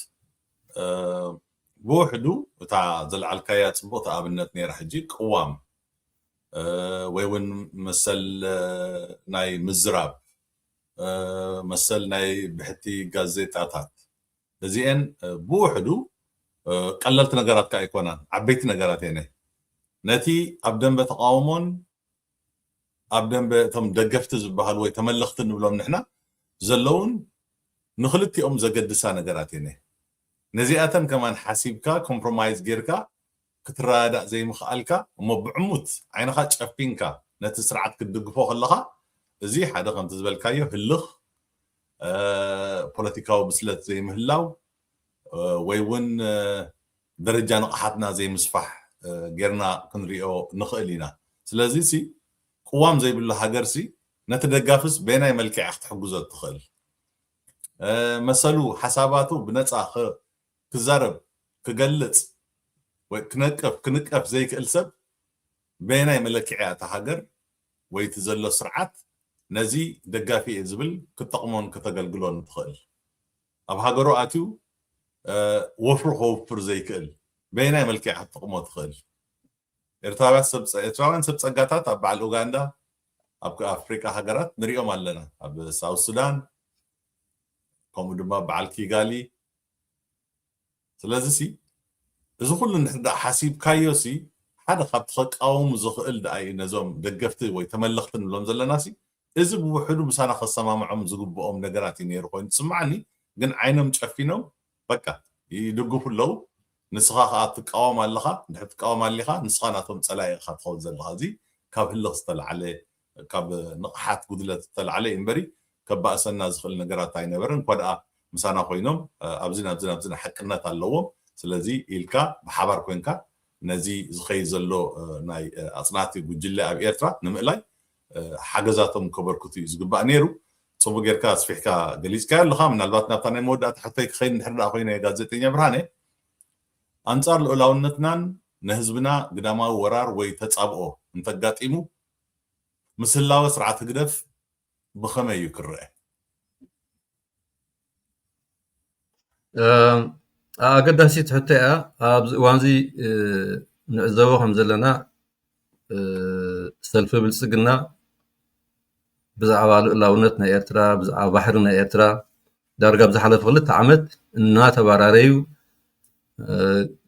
ብውሕዱ እታ ዘልዓልካያ ፅቡቕቲ ኣብነት ነይራ ሕጂ ቅዋም ወይ እውን መሰል ናይ ምዝራብ መሰል ናይ ብሕቲ ጋዜጣታት እዚኤን ብውሕዱ ቀለልቲ ነገራት ከኣ ኣይኮናን ዓበይቲ ነገራት ኤነ ነቲ ኣብ ደንበ ተቓውሞን ኣብ ደንበ እቶም ደገፍቲ ዝበሃሉ ወይ ተመለኽቲ ንብሎም ንሕና ዘለውን ንክልቲኦም ዘገድሳ ነገራት ኤነ ነዚኣተን ከማን ሓሲብካ ኮምፕሮማይዝ ጌርካ ክትረዳዳእ ዘይምኽኣልካ እሞ ብዕሙት ዓይንኻ ጨፊንካ ነቲ ስርዓት ክትድግፎ ከለኻ እዚ ሓደ ከምቲ ዝበልካዮ ህልኽ ፖለቲካዊ ብስለት ዘይምህላው ወይ እውን ደረጃ ንቕሓትና ዘይምስፋሕ ጌርና ክንሪኦ ንኽእል ኢና ስለዚ ሲ ቅዋም ዘይብሉ ሃገር ሲ ነቲ ደጋፍስ በየናይ መልክዕ ክትሕግዞ እትኽእል መሰሉ ሓሳባቱ ብነፃ ክዛረብ፣ ክገልጽ ወይ ክነቅፍ፣ ክንቀፍ፣ ዘይክእል ሰብ በየናይ መለክዒ'ያ እታ ሃገር ወይ እቲ ዘሎ ስርዓት ነዚ ደጋፊ'የ ዝብል ክትጠቕሞን ከተገልግሎን ትኽእል? ኣብ ሃገሩ ኣትዩ ወፍሩ ከውፍር ዘይክእል በየናይ መልክዕ እያ ክትጠቕሞ ትኽእል? ኤርትራውያን ሰብ ጸጋታት ኣብ በዓል ኡጋንዳ ኣብ ኣፍሪቃ ሃገራት ንርእዮም ኣለና። ኣብ ሳውዝ ሱዳን ከምኡ ድማ በዓል ኪጋሊ። ስለዚሲ እዚ ኩሉ እንድሕር ደኣ ሓሲብካዮሲ ሓደ ካብቲ ከቃወሙ ዝኽእል ደኣ እዩ ነዞም ደገፍቲ ወይ ተመለኽቲ ንብሎም ዘለናሲ እዚ ብውሕዱ ምሳና ከሰማምዖም ዝግብኦም ነገራት እዩ ነይሩ ኮይኑ ዝስምዓኒ ግን ዓይኖም ጨፊኖም በቃ ይድግፉ ኣለዉ ንስኻ ከኣ ትቃወም ኣለኻ እንድሕር ትቃወም ኣሊኻ ንስኻ ናቶም ጸላኢ ኢኻ ትኸውን ዘለኻ እዚ ካብ ህልኽ ዝተላዕለ ካብ ንቕሓት ጉድለት ዝተላዕለ እዩ እምበሪ ከባእሰና ዝኽእል ነገራት ኣይነበረን እኳ ድኣ ምሳና ኮይኖም ኣብዚን ኣብዚን ኣብዚን ሓቅነት ኣለዎም ስለዚ ኢልካ ብሓባር ኮንካ ነዚ ዝኸይድ ዘሎ ናይ ኣጽናቲ ጉጅለ ኣብ ኤርትራ ንምእላይ ሓገዛቶም ከበርክቱ እዩ ዝግባእ ነይሩ። ጽቡቅ ጌርካ ኣስፊሕካ ገሊጽካዮ ኣለኻ ምናልባት ናብታ ናይ መወዳእታ ሕቶይ ክኸይድ እንድሕር ደኣ ኮይነ ጋዜጠኛ ብርሃነ ኣንጻር ልኡላውነትናን ንህዝብና ግዳማዊ ወራር ወይ ተጻብኦ እንተጋጢሙ ምስ ህላወ ስርዓት ህግደፍ ብኸመይ እዩ ክረኣ? ኣገዳሲት ሕቶ እያ ኣብዚ እዋን እዚ ንዕዘቦ ከም ዘለና ሰልፊ ብልፅግና ብዛዕባ ልኡላውነት ናይ ኤርትራ ብዛዕባ ባሕሪ ናይ ኤርትራ ዳርጋ ኣብ ዝሓለፈ ክልተ ዓመት እናተባራረዩ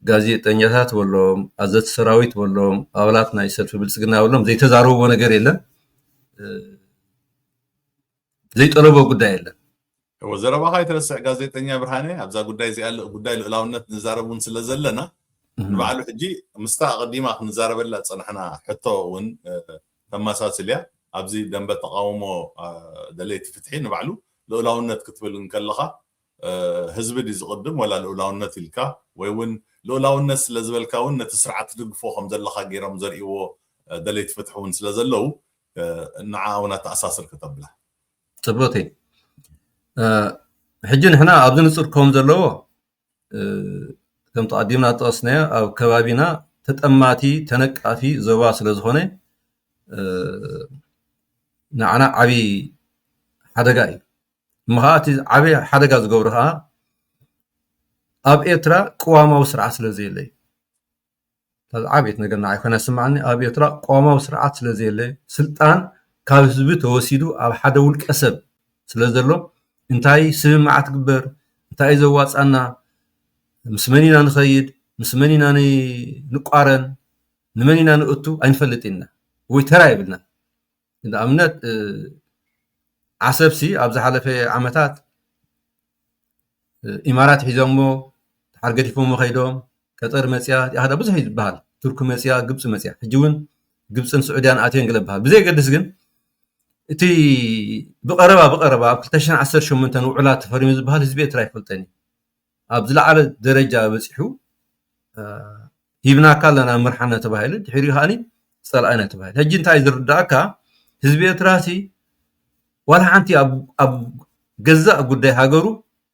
ጋዜጠኛታት በሎም ኣዘቲ ሰራዊት በሎም ኣባላት ናይ ሰልፊ ብልፅግና በሎም ዘይተዛረብዎ ነገር የለን ዘይጠለቦ ጉዳይ የለን እወ ዘረባኻ ይትረስዕ ጋዜጠኛ ብርሃነ ኣብዛ ጉዳይ እዚኣ ጉዳይ ልእላውነት ንዛረብ እውን ስለ ዘለና ንባዕሉ ሕጂ ምስታ ኣቐዲማ ክንዛረበላ ዝፀናሕና ሕቶ እውን ተመሳስልያ ኣብዚ ደንበ ተቓውሞ ደለይቲ ፍትሒ ንባዕሉ ልኡላውነት ክትብል እንከለኻ ህዝቢ ድዩ ዝቕድም ወላ ልኡላውነት ኢልካ ወይ ውን ልኡላውነት ስለ ዝበልካ ውን ነቲ ስርዓት ትድግፎ ከም ዘለኻ ጌሮም ዘርእይዎ ደለይቲ ፍትሒ ውን ስለ ዘለዉ ንዓኣ ውን ኣተኣሳስር ከተብላ ጽብቕቲ ሕጂ ንሕና ኣብዚ ንጹር ከም ዘለዎ ከም ተቐዲምና ዝጠቐስናዮ ኣብ ከባቢና ተጠማቲ ተነቃፊ ዞባ ስለ ዝኾነ ንዓና ዓብዪ ሓደጋ እዩ እሞ ከዓ እቲ ዓብዪ ሓደጋ ዝገብሮ ከዓ ኣብ ኤርትራ ቅዋማዊ ስርዓት ስለ ዘየለ እዩ ዝዓበየት ነገር ንዓይ ኮይና ዝስምዓኒ ኣብ ኤርትራ ቅዋማዊ ስርዓት ስለዘየለ ስልጣን ካብ ህዝቢ ተወሲዱ ኣብ ሓደ ውልቀ ሰብ ስለዘሎ እንታይ ስምምዓት ትግበር እንታይ እዩ ዘዋፅኣና ምስ መን ኢና ንኸይድ ምስ መን ኢና ንቛረን ንመን ኢና ንእቱ ኣይንፈልጥን ኢና ወይ ተራ የብልናን። ንኣብነት ዓሰብሲ ኣብ ዝሓለፈ ዓመታት ኢማራት ሒዞሞ ድሓር ገዲፎሞ ከይዶም ቀጠር መፅያ እቲኣ ከኣ ብዙሕ እዩ ዝበሃል ቱርኪ መፅያ ግብፂ መፅያ ሕጂ እውን ግብፅን ስዑድያን ኣትየን ገለ ይበሃል ብዘየገድስ ግን እቲ ብቐረባ ብቐረባ ኣብ ክልተ ሽሕን ዓሰርተ ሸሞንተን ውዕላት ተፈሪሙ ዝበሃል ህዝቢ ኤርትራ ኣይፈልጦን እዩ። ኣብ ዝለዓለ ደረጃ በጺሑ ሂብናካ ኣለና ምርሓና ተባሂሉ ድሕሪኡ ከኣ ጸላኢና ተባሂሉ ሕጂ እንታይ ዝርዳእካ ህዝቢ ኤርትራ ሲ ዋላ ሓንቲ ኣብ ገዛእ ጉዳይ ሃገሩ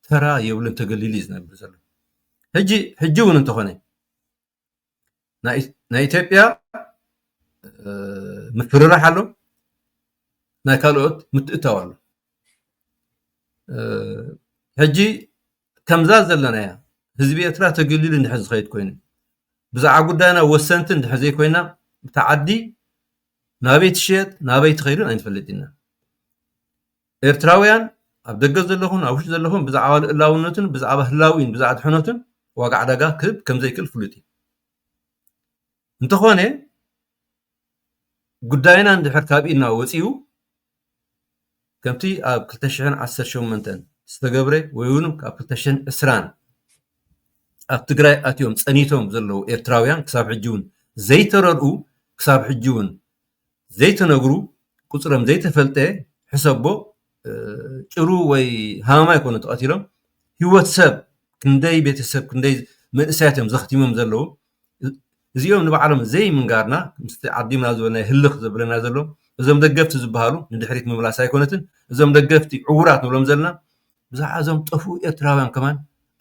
ተራ የብሉን ተገሊሉ እዩ ዝነብር ዘሎ ሕጂ ሕጂ እውን እንተኾነ ናይ ኢትዮጵያ ምፍርራሕ ኣሎ ናይ ካልኦት ምትእትታው ኣሎ ሕጂ ከምዛ ዘለናያ ህዝቢ ኤርትራ ተገሊሉ እንድሕር ዝኸይድ ኮይኑ ብዛዕባ ጉዳይና ወሰንቲ እንድሕር ዘይኮይና እታ ዓዲ ናበይ ትሽየጥ ናበይ ትኸይድን ኣይንፈልጥ ኢና ኤርትራውያን ኣብ ደገ ዘለኹን ኣብ ውሽጢ ዘለኹን ብዛዕባ ልኡላውነቱን ብዛዕባ ህላዊኡን ብዛዕባ ድሕነቱን ዋጋ ዕዳጋ ክህብ ከም ዘይክእል ፍሉጥ እዩ። እንተኾነ ጉዳይና እንድሕር ካብ ኢድና ወፂኡ ከምቲ ኣብ 218 ዝተገብረ ወይ እውን ኣብ 220 ኣብ ትግራይ ኣትዮም ፀኒቶም ዘለዉ ኤርትራውያን ክሳብ ሕጂ እውን ዘይተረድኡ ክሳብ ሕጂ እውን ዘይተነግሩ ቁፅሮም ዘይተፈልጠ ሕሰቦ ጭሩ ወይ ሃመማ ኣይኮኑን ተቐቲሎም ሂወት ሰብ ክንደይ ቤተሰብ ክንደይ መንእሰያት እዮም ዘኽቲሞም ዘለዉ እዚኦም ንባዕሎም ዘይምንጋርና ምስቲ ዓዲምና ዝበልናዮ ህልኽ ዘብለና ዘሎ እዞም ደገፍቲ ዝበሃሉ ንድሕሪት ምምላስ ኣይኮነትን እዞም ደገፍቲ ዕውራት ንብሎም ዘለና ብዛዕባ እዞም ጠፍኡ ኤርትራውያን ከማን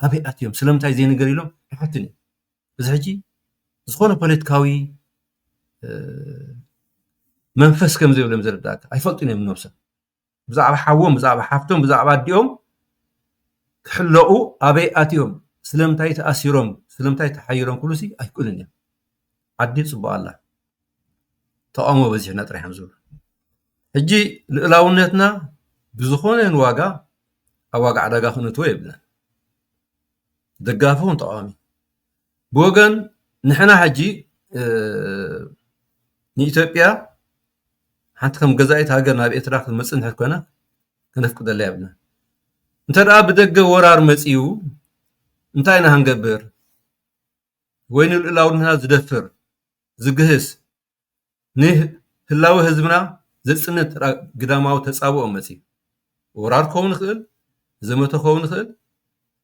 ኣበይ ኣትዮም ስለምንታይ ዘይንገር ኢሎም ክሓትን እዩ እዚ ሕጂ ዝኾነ ፖለቲካዊ መንፈስ ከም ዘይብሎም ዝርዳእካ ኣይፈልጡን እዮም ነብሶም ብዛዕባ ሓዎም ብዛዕባ ሓፍቶም ብዛዕባ ኣዲኦም ክሕለቑ ኣበይ ኣትዮም ስለምንታይ ተኣሲሮም ስለምንታይ ተሓይሮም ክብሉ ሲ ኣይክእሉን እዮም ዓዲ ፅቡቅ ኣላ ተቃውሞ በዚሕና ጥራሕ እዮም ዝብሉ ሕጂ ልእላውነትና ብዝኾነ ዋጋ ኣብ ዋጋ ዕዳጋ ክነትዎ የብልና ደጋፊ ኹን ተቃዋሚ ብወገን ንሕና ሕጂ ንኢትዮጵያ ሓንቲ ከም ገዛኢት ሃገር ናብ ኤርትራ ክትመፅእ እንድሕር ኮይና ከነፍቅደላ የብልናን እንተ ደኣ ብደገ ወራር መፂኡ እንታይ ኢና ክንገብር ወይ ንልኡላውነትና ዝደፍር ዝግህስ ንህላወ ህዝብና ዘጽንት ግዳማዊ ተጻብኦ መጺኡ። ወራር ክኸውን ይኽእል፣ ዘመተ ክኸውን ይኽእል፣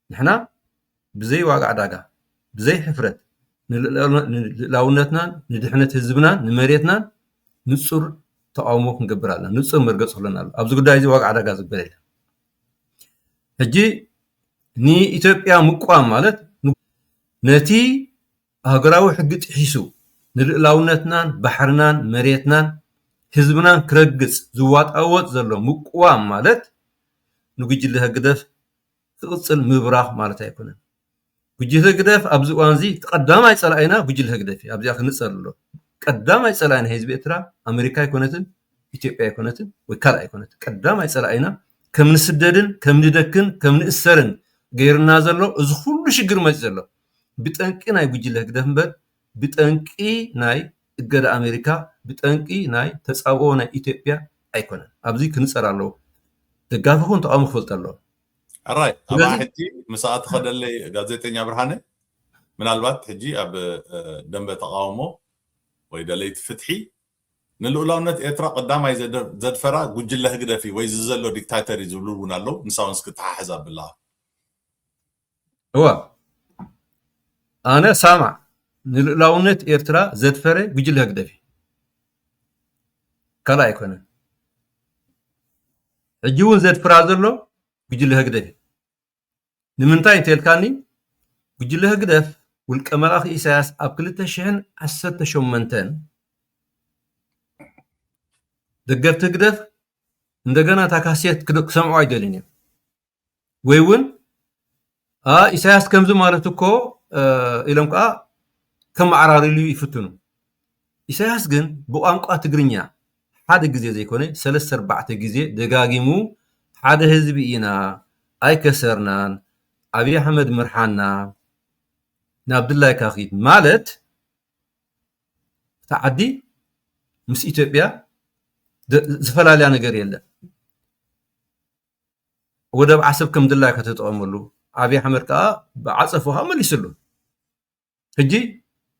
ንሕና ብዘይ ዋጋ ዕዳጋ፣ ብዘይ ሕፍረት ንልኡላውነትናን ንድሕነት ህዝብናን ንመሬትናን ንጹር ተቓውሞ ክንገብር ኣለና፣ ንጹር መርገጺ ክህልወና ኣለዎ። ኣብዚ ጉዳይ እዚ ዋጋ ዕዳጋ ዝበል የለን። ሕጂ ንኢትዮጵያ ምቅዋም ማለት ነቲ ሃገራዊ ሕጊ ጥሒሱ ንልእላውነትናን ባሕርናን መሬትናን ህዝብናን ክረግጽ ዝዋጣወጥ ዘሎ ምቁዋም ማለት ንጉጅለ ህግደፍ ክቕጽል ምብራኽ ማለት ኣይኮነን። ጉጅለ ህግደፍ ኣብዚ እዋንዚ እቲ ቀዳማይ ጸላኢና ጉጅለ ህግደፍ እዩ ኣብዚኣ ክንጸር ኣሎ ቀዳማይ ጸላኢ ናይ ህዝቢ ኤርትራ ኣመሪካ ኣይኮነትን ኢትዮጵያ ኣይኮነትን ወይ ካልእ ኣይኮነትን ቀዳማይ ጸላኢና ከም ንስደድን ከም ንደክን ከም ንእሰርን ገይርና ዘሎ እዚ ኩሉ ሽግር መጽ ዘሎ ብጠንቂ ናይ ጉጅለ ህግደፍ እምበር ብጠንቂ ናይ እገዳ ኣሜሪካ ብጠንቂ ናይ ተጻብኦ ናይ ኢትዮጵያ ኣይኮነን ኣብዚ ክንጸር ኣለዎ ደጋፊ ይኹን ተቃዋሚ ክፈልጦ ኣለዎ። ሕራይ ኣብኣ ሕጂ ምስኣ ትኸደለይ ጋዜጠኛ ብርሃነ ምናልባት ሕጂ ኣብ ደንበ ተቃውሞ ወይ ደለይቲ ፍትሒ ንልኡላውነት ኤርትራ ቀዳማይ ዘድፈራ ጉጅለ ህግደፍ እዩ ወይ እዚ ዘሎ ዲክታተር እዩ ዝብሉ እውን ኣለዉ ንሳ እውን እስኪ ተሓሕዝ ኣብላ። እወ ኣነ ሳምዕ ንልኡላውነት ኤርትራ ዘድፈረ ጉጅለ ህግደፍ እዩ ካልእ ኣይኮነን ሕጂ እውን ዘድፍራ ዘሎ ጉጅለ ህግደፍ እዩ ንምንታይ እንተልካኒ ጉጅለ ህግደፍ ውልቀ መላኺ ኢሳያስ ኣብ 218 ደገፍቲ ህግደፍ እንደገና እታ ካሴት ክሰምዑ ኣይደልን እዮም ወይ ውን ኣእ ኢሳያስ ከምዚ ማለት እኮ ኢሎም ከኣ ከመዓራርይሉ ይፍትኑ። ኢሳያስ ግን ብቋንቋ ትግርኛ ሓደ ግዜ ዘይኮነ ሰለስተ ኣርባዕተ ግዜ ደጋጊሙ ሓደ ህዝቢ ኢና ኣይከሰርናን ኣብይ ኣሕመድ ምርሓና ናብ ድላይካ ኪድ ማለት እታ ዓዲ ምስ ኢትዮጵያ ዝፈላልያ ነገር የለን። ወደብ ዓሰብ ከም ድላዩ ከተጠቐመሉ ኣብይ ኣሕመድ ከዓ ብዓፀፍኡ መሊስሉ ሕጂ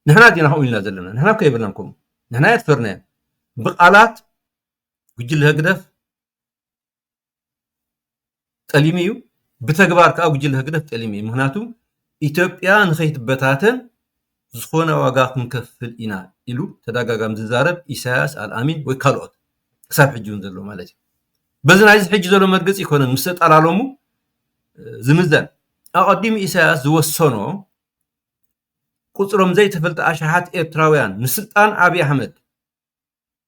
ንሕና ዲና ከምኡ ኢልና ዘለና ንሕና እኮ የብልናን ከምኡ ንሕና የትፈርናዮ ብቃላት ጉጅለ ህግደፍ ጠሊሙ እዩ ብተግባር ከዓ ጉጅለ ህግደፍ ጠሊሙ እዩ ምክንያቱ ኢትዮጵያ ንከይትበታተን ዝኾነ ዋጋ ክንከፍል ኢና ኢሉ ተዳጋጋሚ ዝዛረብ ኢሳያስ ኣልኣሚን ወይ ካልኦት ክሳብ ሕጂ እውን ዘሎ ማለት እዩ በዚ ናይዚ ሕጂ ዘሎ መርገፂ ይኮነን ምስ ተጠላለሙ ዝምዘን ኣቐዲሙ ኢሳያስ ዝወሰኖ ቁፅሮም ዘይተፈልጠ ኣሽሓት ኤርትራውያን ንስልጣን ኣብዪ ኣሕመድ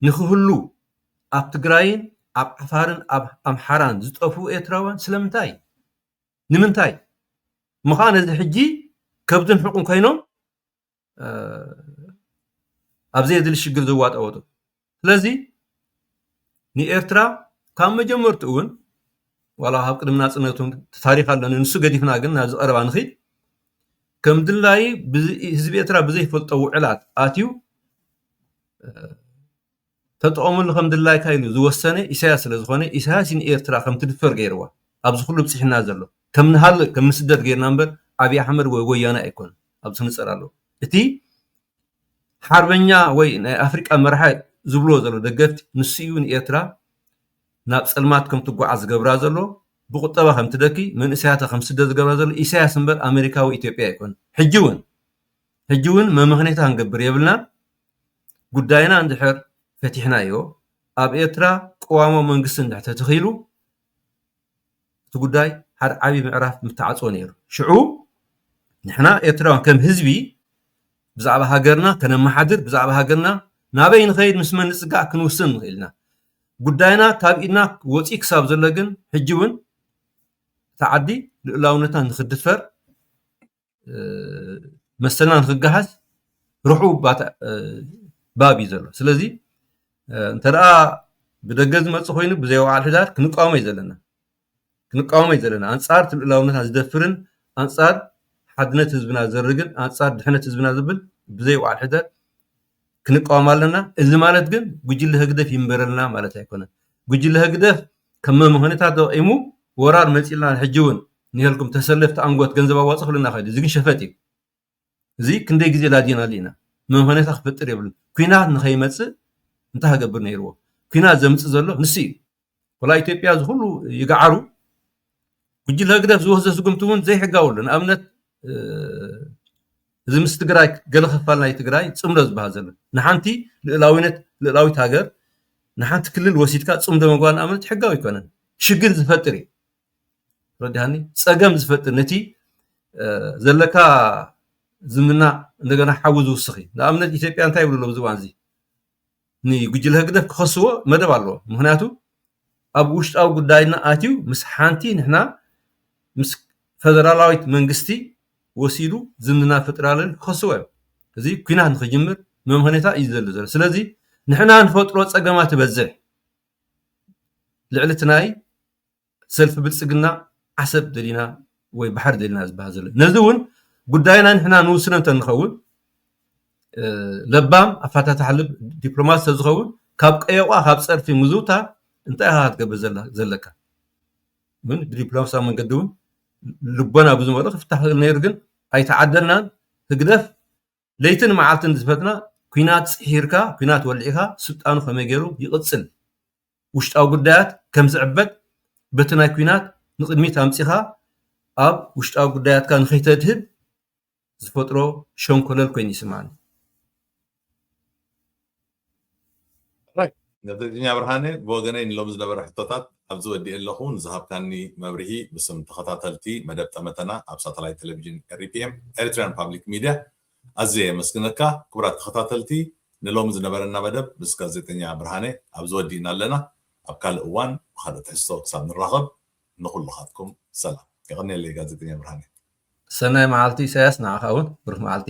ንክህሉ ኣብ ትግራይን ኣብ ዓፋርን ኣብ ኣምሓራን ዝጠፍኡ ኤርትራውያን ስለምንታይ ንምንታይ እሞከኣ ነዚ ሕጂ ከብድን ሕቁን ኮይኖም ኣብ ዘየድሊ ሽግር ዘዋጠወጡ ስለዚ ንኤርትራ ካብ መጀመርትኡ እውን ዋላ ካብ ቅድሚ ናፅነት እውን ታሪክ ኣለኒ ንሱ ገዲፍና ግን ናብዚ ቀረባ ንኽድ ከም ድላዩ ህዝቢ ኤርትራ ብዘይፈልጦ ውዕላት ኣትዩ ተጠቐመሉ ከም ድላይካ ኢሉ ዝወሰነ ኢሳያስ ስለ ዝኾነ ኢሳያስ እዩ ንኤርትራ ከም ትድፈር ገይርዋ ኣብዚ ኩሉ ብጺሕና ዘሎ ከም ንሃልቕ ከም ንስደድ ገይርና እምበር ኣብይ ኣሕመድ ወይ ወያነ ኣይኮነን ኣብዚ ክንጸር ኣለዎ እቲ ሓርበኛ ወይ ናይ ኣፍሪቃ መራሒ ዝብልዎ ዘሎ ደገፍቲ ንሱ እዩ ንኤርትራ ናብ ጸልማት ከም ትጓዓዝ ዝገብራ ዘሎ ብቁጠባ ከም ትደኪ መንእሰያታ ከም ስደት ዝገብራ ዘሎ ኢሳያስ እምበር ኣመሪካ ወይ ኢትዮጵያ ኣይኮነን ሕጂ እውን ሕጂ ውን መመኽኔታ ክንገብር የብልናን ጉዳይና እንድሕር ፈቲሕናዮ ኣብ ኤርትራ ቅዋማዊ መንግስቲ እንድሕር ተተኺሉ እቲ ጉዳይ ሓደ ዓብዪ ምዕራፍ ምተዓጽወ ነይሩ ሽዑ ንሕና ኤርትራውያን ከም ህዝቢ ብዛዕባ ሃገርና ከነመሓድር ብዛዕባ ሃገርና ናበይ ንኸይድ ምስ መን ንፅጋዕ ክንውስን ንኽእል ኢና ጉዳይና ካብ ኢድና ወፂ ክሳብ ዘሎ ግን ሕጂ እውን እቲ ዓዲ ልኡላውነትና ንክድፈር መሰልና ንክገሃስ ርሑው ባብ እዩ ዘሎ ስለዚ እንተደኣ ብደገ ዝመፅ ኮይኑ ብዘይ ወዓል ሕዳር ክንቃወሞ እዩ ዘለና ክንቃወሞ እዩ ዘለና ኣንፃር ትልእላውነታ ዝደፍርን ኣንፃር ሓድነት ህዝብና ዝርግን ኣንፃር ድሕነት ህዝብና ዝብል ብዘይ ወዓል ሕዳር ክንቃወም ኣለና። እዚ ማለት ግን ጉጅለ ህግደፍ ይንበረልና ማለት ኣይኮነን። ጉጅለ ህግደፍ ከም መምኸኒታት ተጠቒሙ ወራር መጺኡልና ሕጂ እውን ንሄልኩም ተሰለፍቲ ኣንጎት ገንዘብ ኣዋጽ ክብለና ይኽእል እዩ። እዚ ግን ሸፈጥ እዩ። እዚ ክንደይ ግዜ ላዲናሉ ኢና። መምኸኒታ ክፈጥር የብሉን። ኩናት ንኸይመጽእ እንታይ ክገብር ነይርዎ? ኩናት ዘምጽእ ዘሎ ንሱ እዩ። ወላ ኢትዮጵያ እዚ ኩሉ ይግዓሩ ጉጅለ ህግደፍ ዝወስዶ ስጉምቲ እውን ዘይሕጋዊ ኣሎ ንኣብነት እዚ ምስ ትግራይ ገለ ክፋል ናይ ትግራይ ፅምዶ ዝበሃል ዘሎ ንሓንቲ ልእላዊነት ልእላዊት ሃገር ንሓንቲ ክልል ወሲድካ ፅምዶ ምግባር ንኣብነት ሕጋዊ ኣይኮነን ሽግር ዝፈጥር እዩ ረዲሃኒ ፀገም ዝፈጥር ነቲ ዘለካ ዝምና እንደገና ሓዊ ዝውስኽ እዩ ንኣብነት ኢትዮጵያ እንታይ ይብሉ ኣለዉ ዝዋን እዚ ንጉጅለ ህግደፍ ክኸስዎ መደብ ኣለዎም። ምኽንያቱ ኣብ ውሽጣዊ ጉዳይና ኣትዩ ምስ ሓንቲ ንሕና ምስ ፈደራላዊት መንግስቲ ወሲዱ ዝምድና ፈጢራልና ኢሉ ክኸስዎ እዮም። እዚ ኩናት ንክጅምር መምኸኔታ እዩ ዝደሊ ዘሎ። ስለዚ ንሕና ንፈጥሮ ጸገማት ይበዝሕ ልዕሊ እቲ ናይ ሰልፊ ብልፅግና ዓሰብ ደሊና ወይ ባሕሪ ደሊና ዝበሃል ዘሎ ነዚ እውን ጉዳይና ንሕና ንውስነ እንተንኸውን ለባም ኣፋታታሕ ልብ ዲፕሎማት ስለዝኸውን ካብ ቀየቋ ካብ ፀርፊ ምዝውታር እንታይ ኢኻ ክትገብር ዘለካ ምን ብዲፕሎማሲያዊ መንገዲ እውን ልቦና ብዝመልኦ ክፍታሕ ክእል ነይሩ ግን ኣይተዓደልናን ህግደፍ ለይትን መዓልትን ዝፈትና ኲናት ጽሒርካ ኲናት ወሊዕካ ስልጣኑ ከመይ ገይሩ ይቕጽል ውሽጣዊ ጉዳያት ከም ዝዕበት በቲ ናይ ኲናት ንቕድሚት ኣምጺኻ ኣብ ውሽጣዊ ጉዳያትካ ንኸይተድህብ ዝፈጥሮ ሸንኮለል ኮይኑ ይስምዓኒ ጋዜጠኛ ብርሃነ ብወገነይ ንሎሚ ዝነበረ ሕቶታት ኣብዚ ወዲኤ ኣለኹ። ንዝሃብካኒ መብርሂ ብስም ተኸታተልቲ መደብ ጠመተና ኣብ ሳተላይት ቴሌቪዥን ኤሪፒኤም፣ Eritrean Public Media፣ ኣዝየ የመስግነካ። ክቡራት ተኸታተልቲ ንሎሚ ዝነበረና መደብ ምስ ጋዜጠኛ ብርሃነ ኣብዚ ወዲእና ኣለና። ኣብ ካልእ እዋን ብኻልእ ትሕዝቶ ክሳብ ንራኸብ ንኹልኻትኩም ሰላም። የቐንየለይ ጋዜጠኛ ብርሃነ። ሰናይ መዓልቲ ኢሳያስ ንዓኻ እውን ብሩህ መዓልቲ።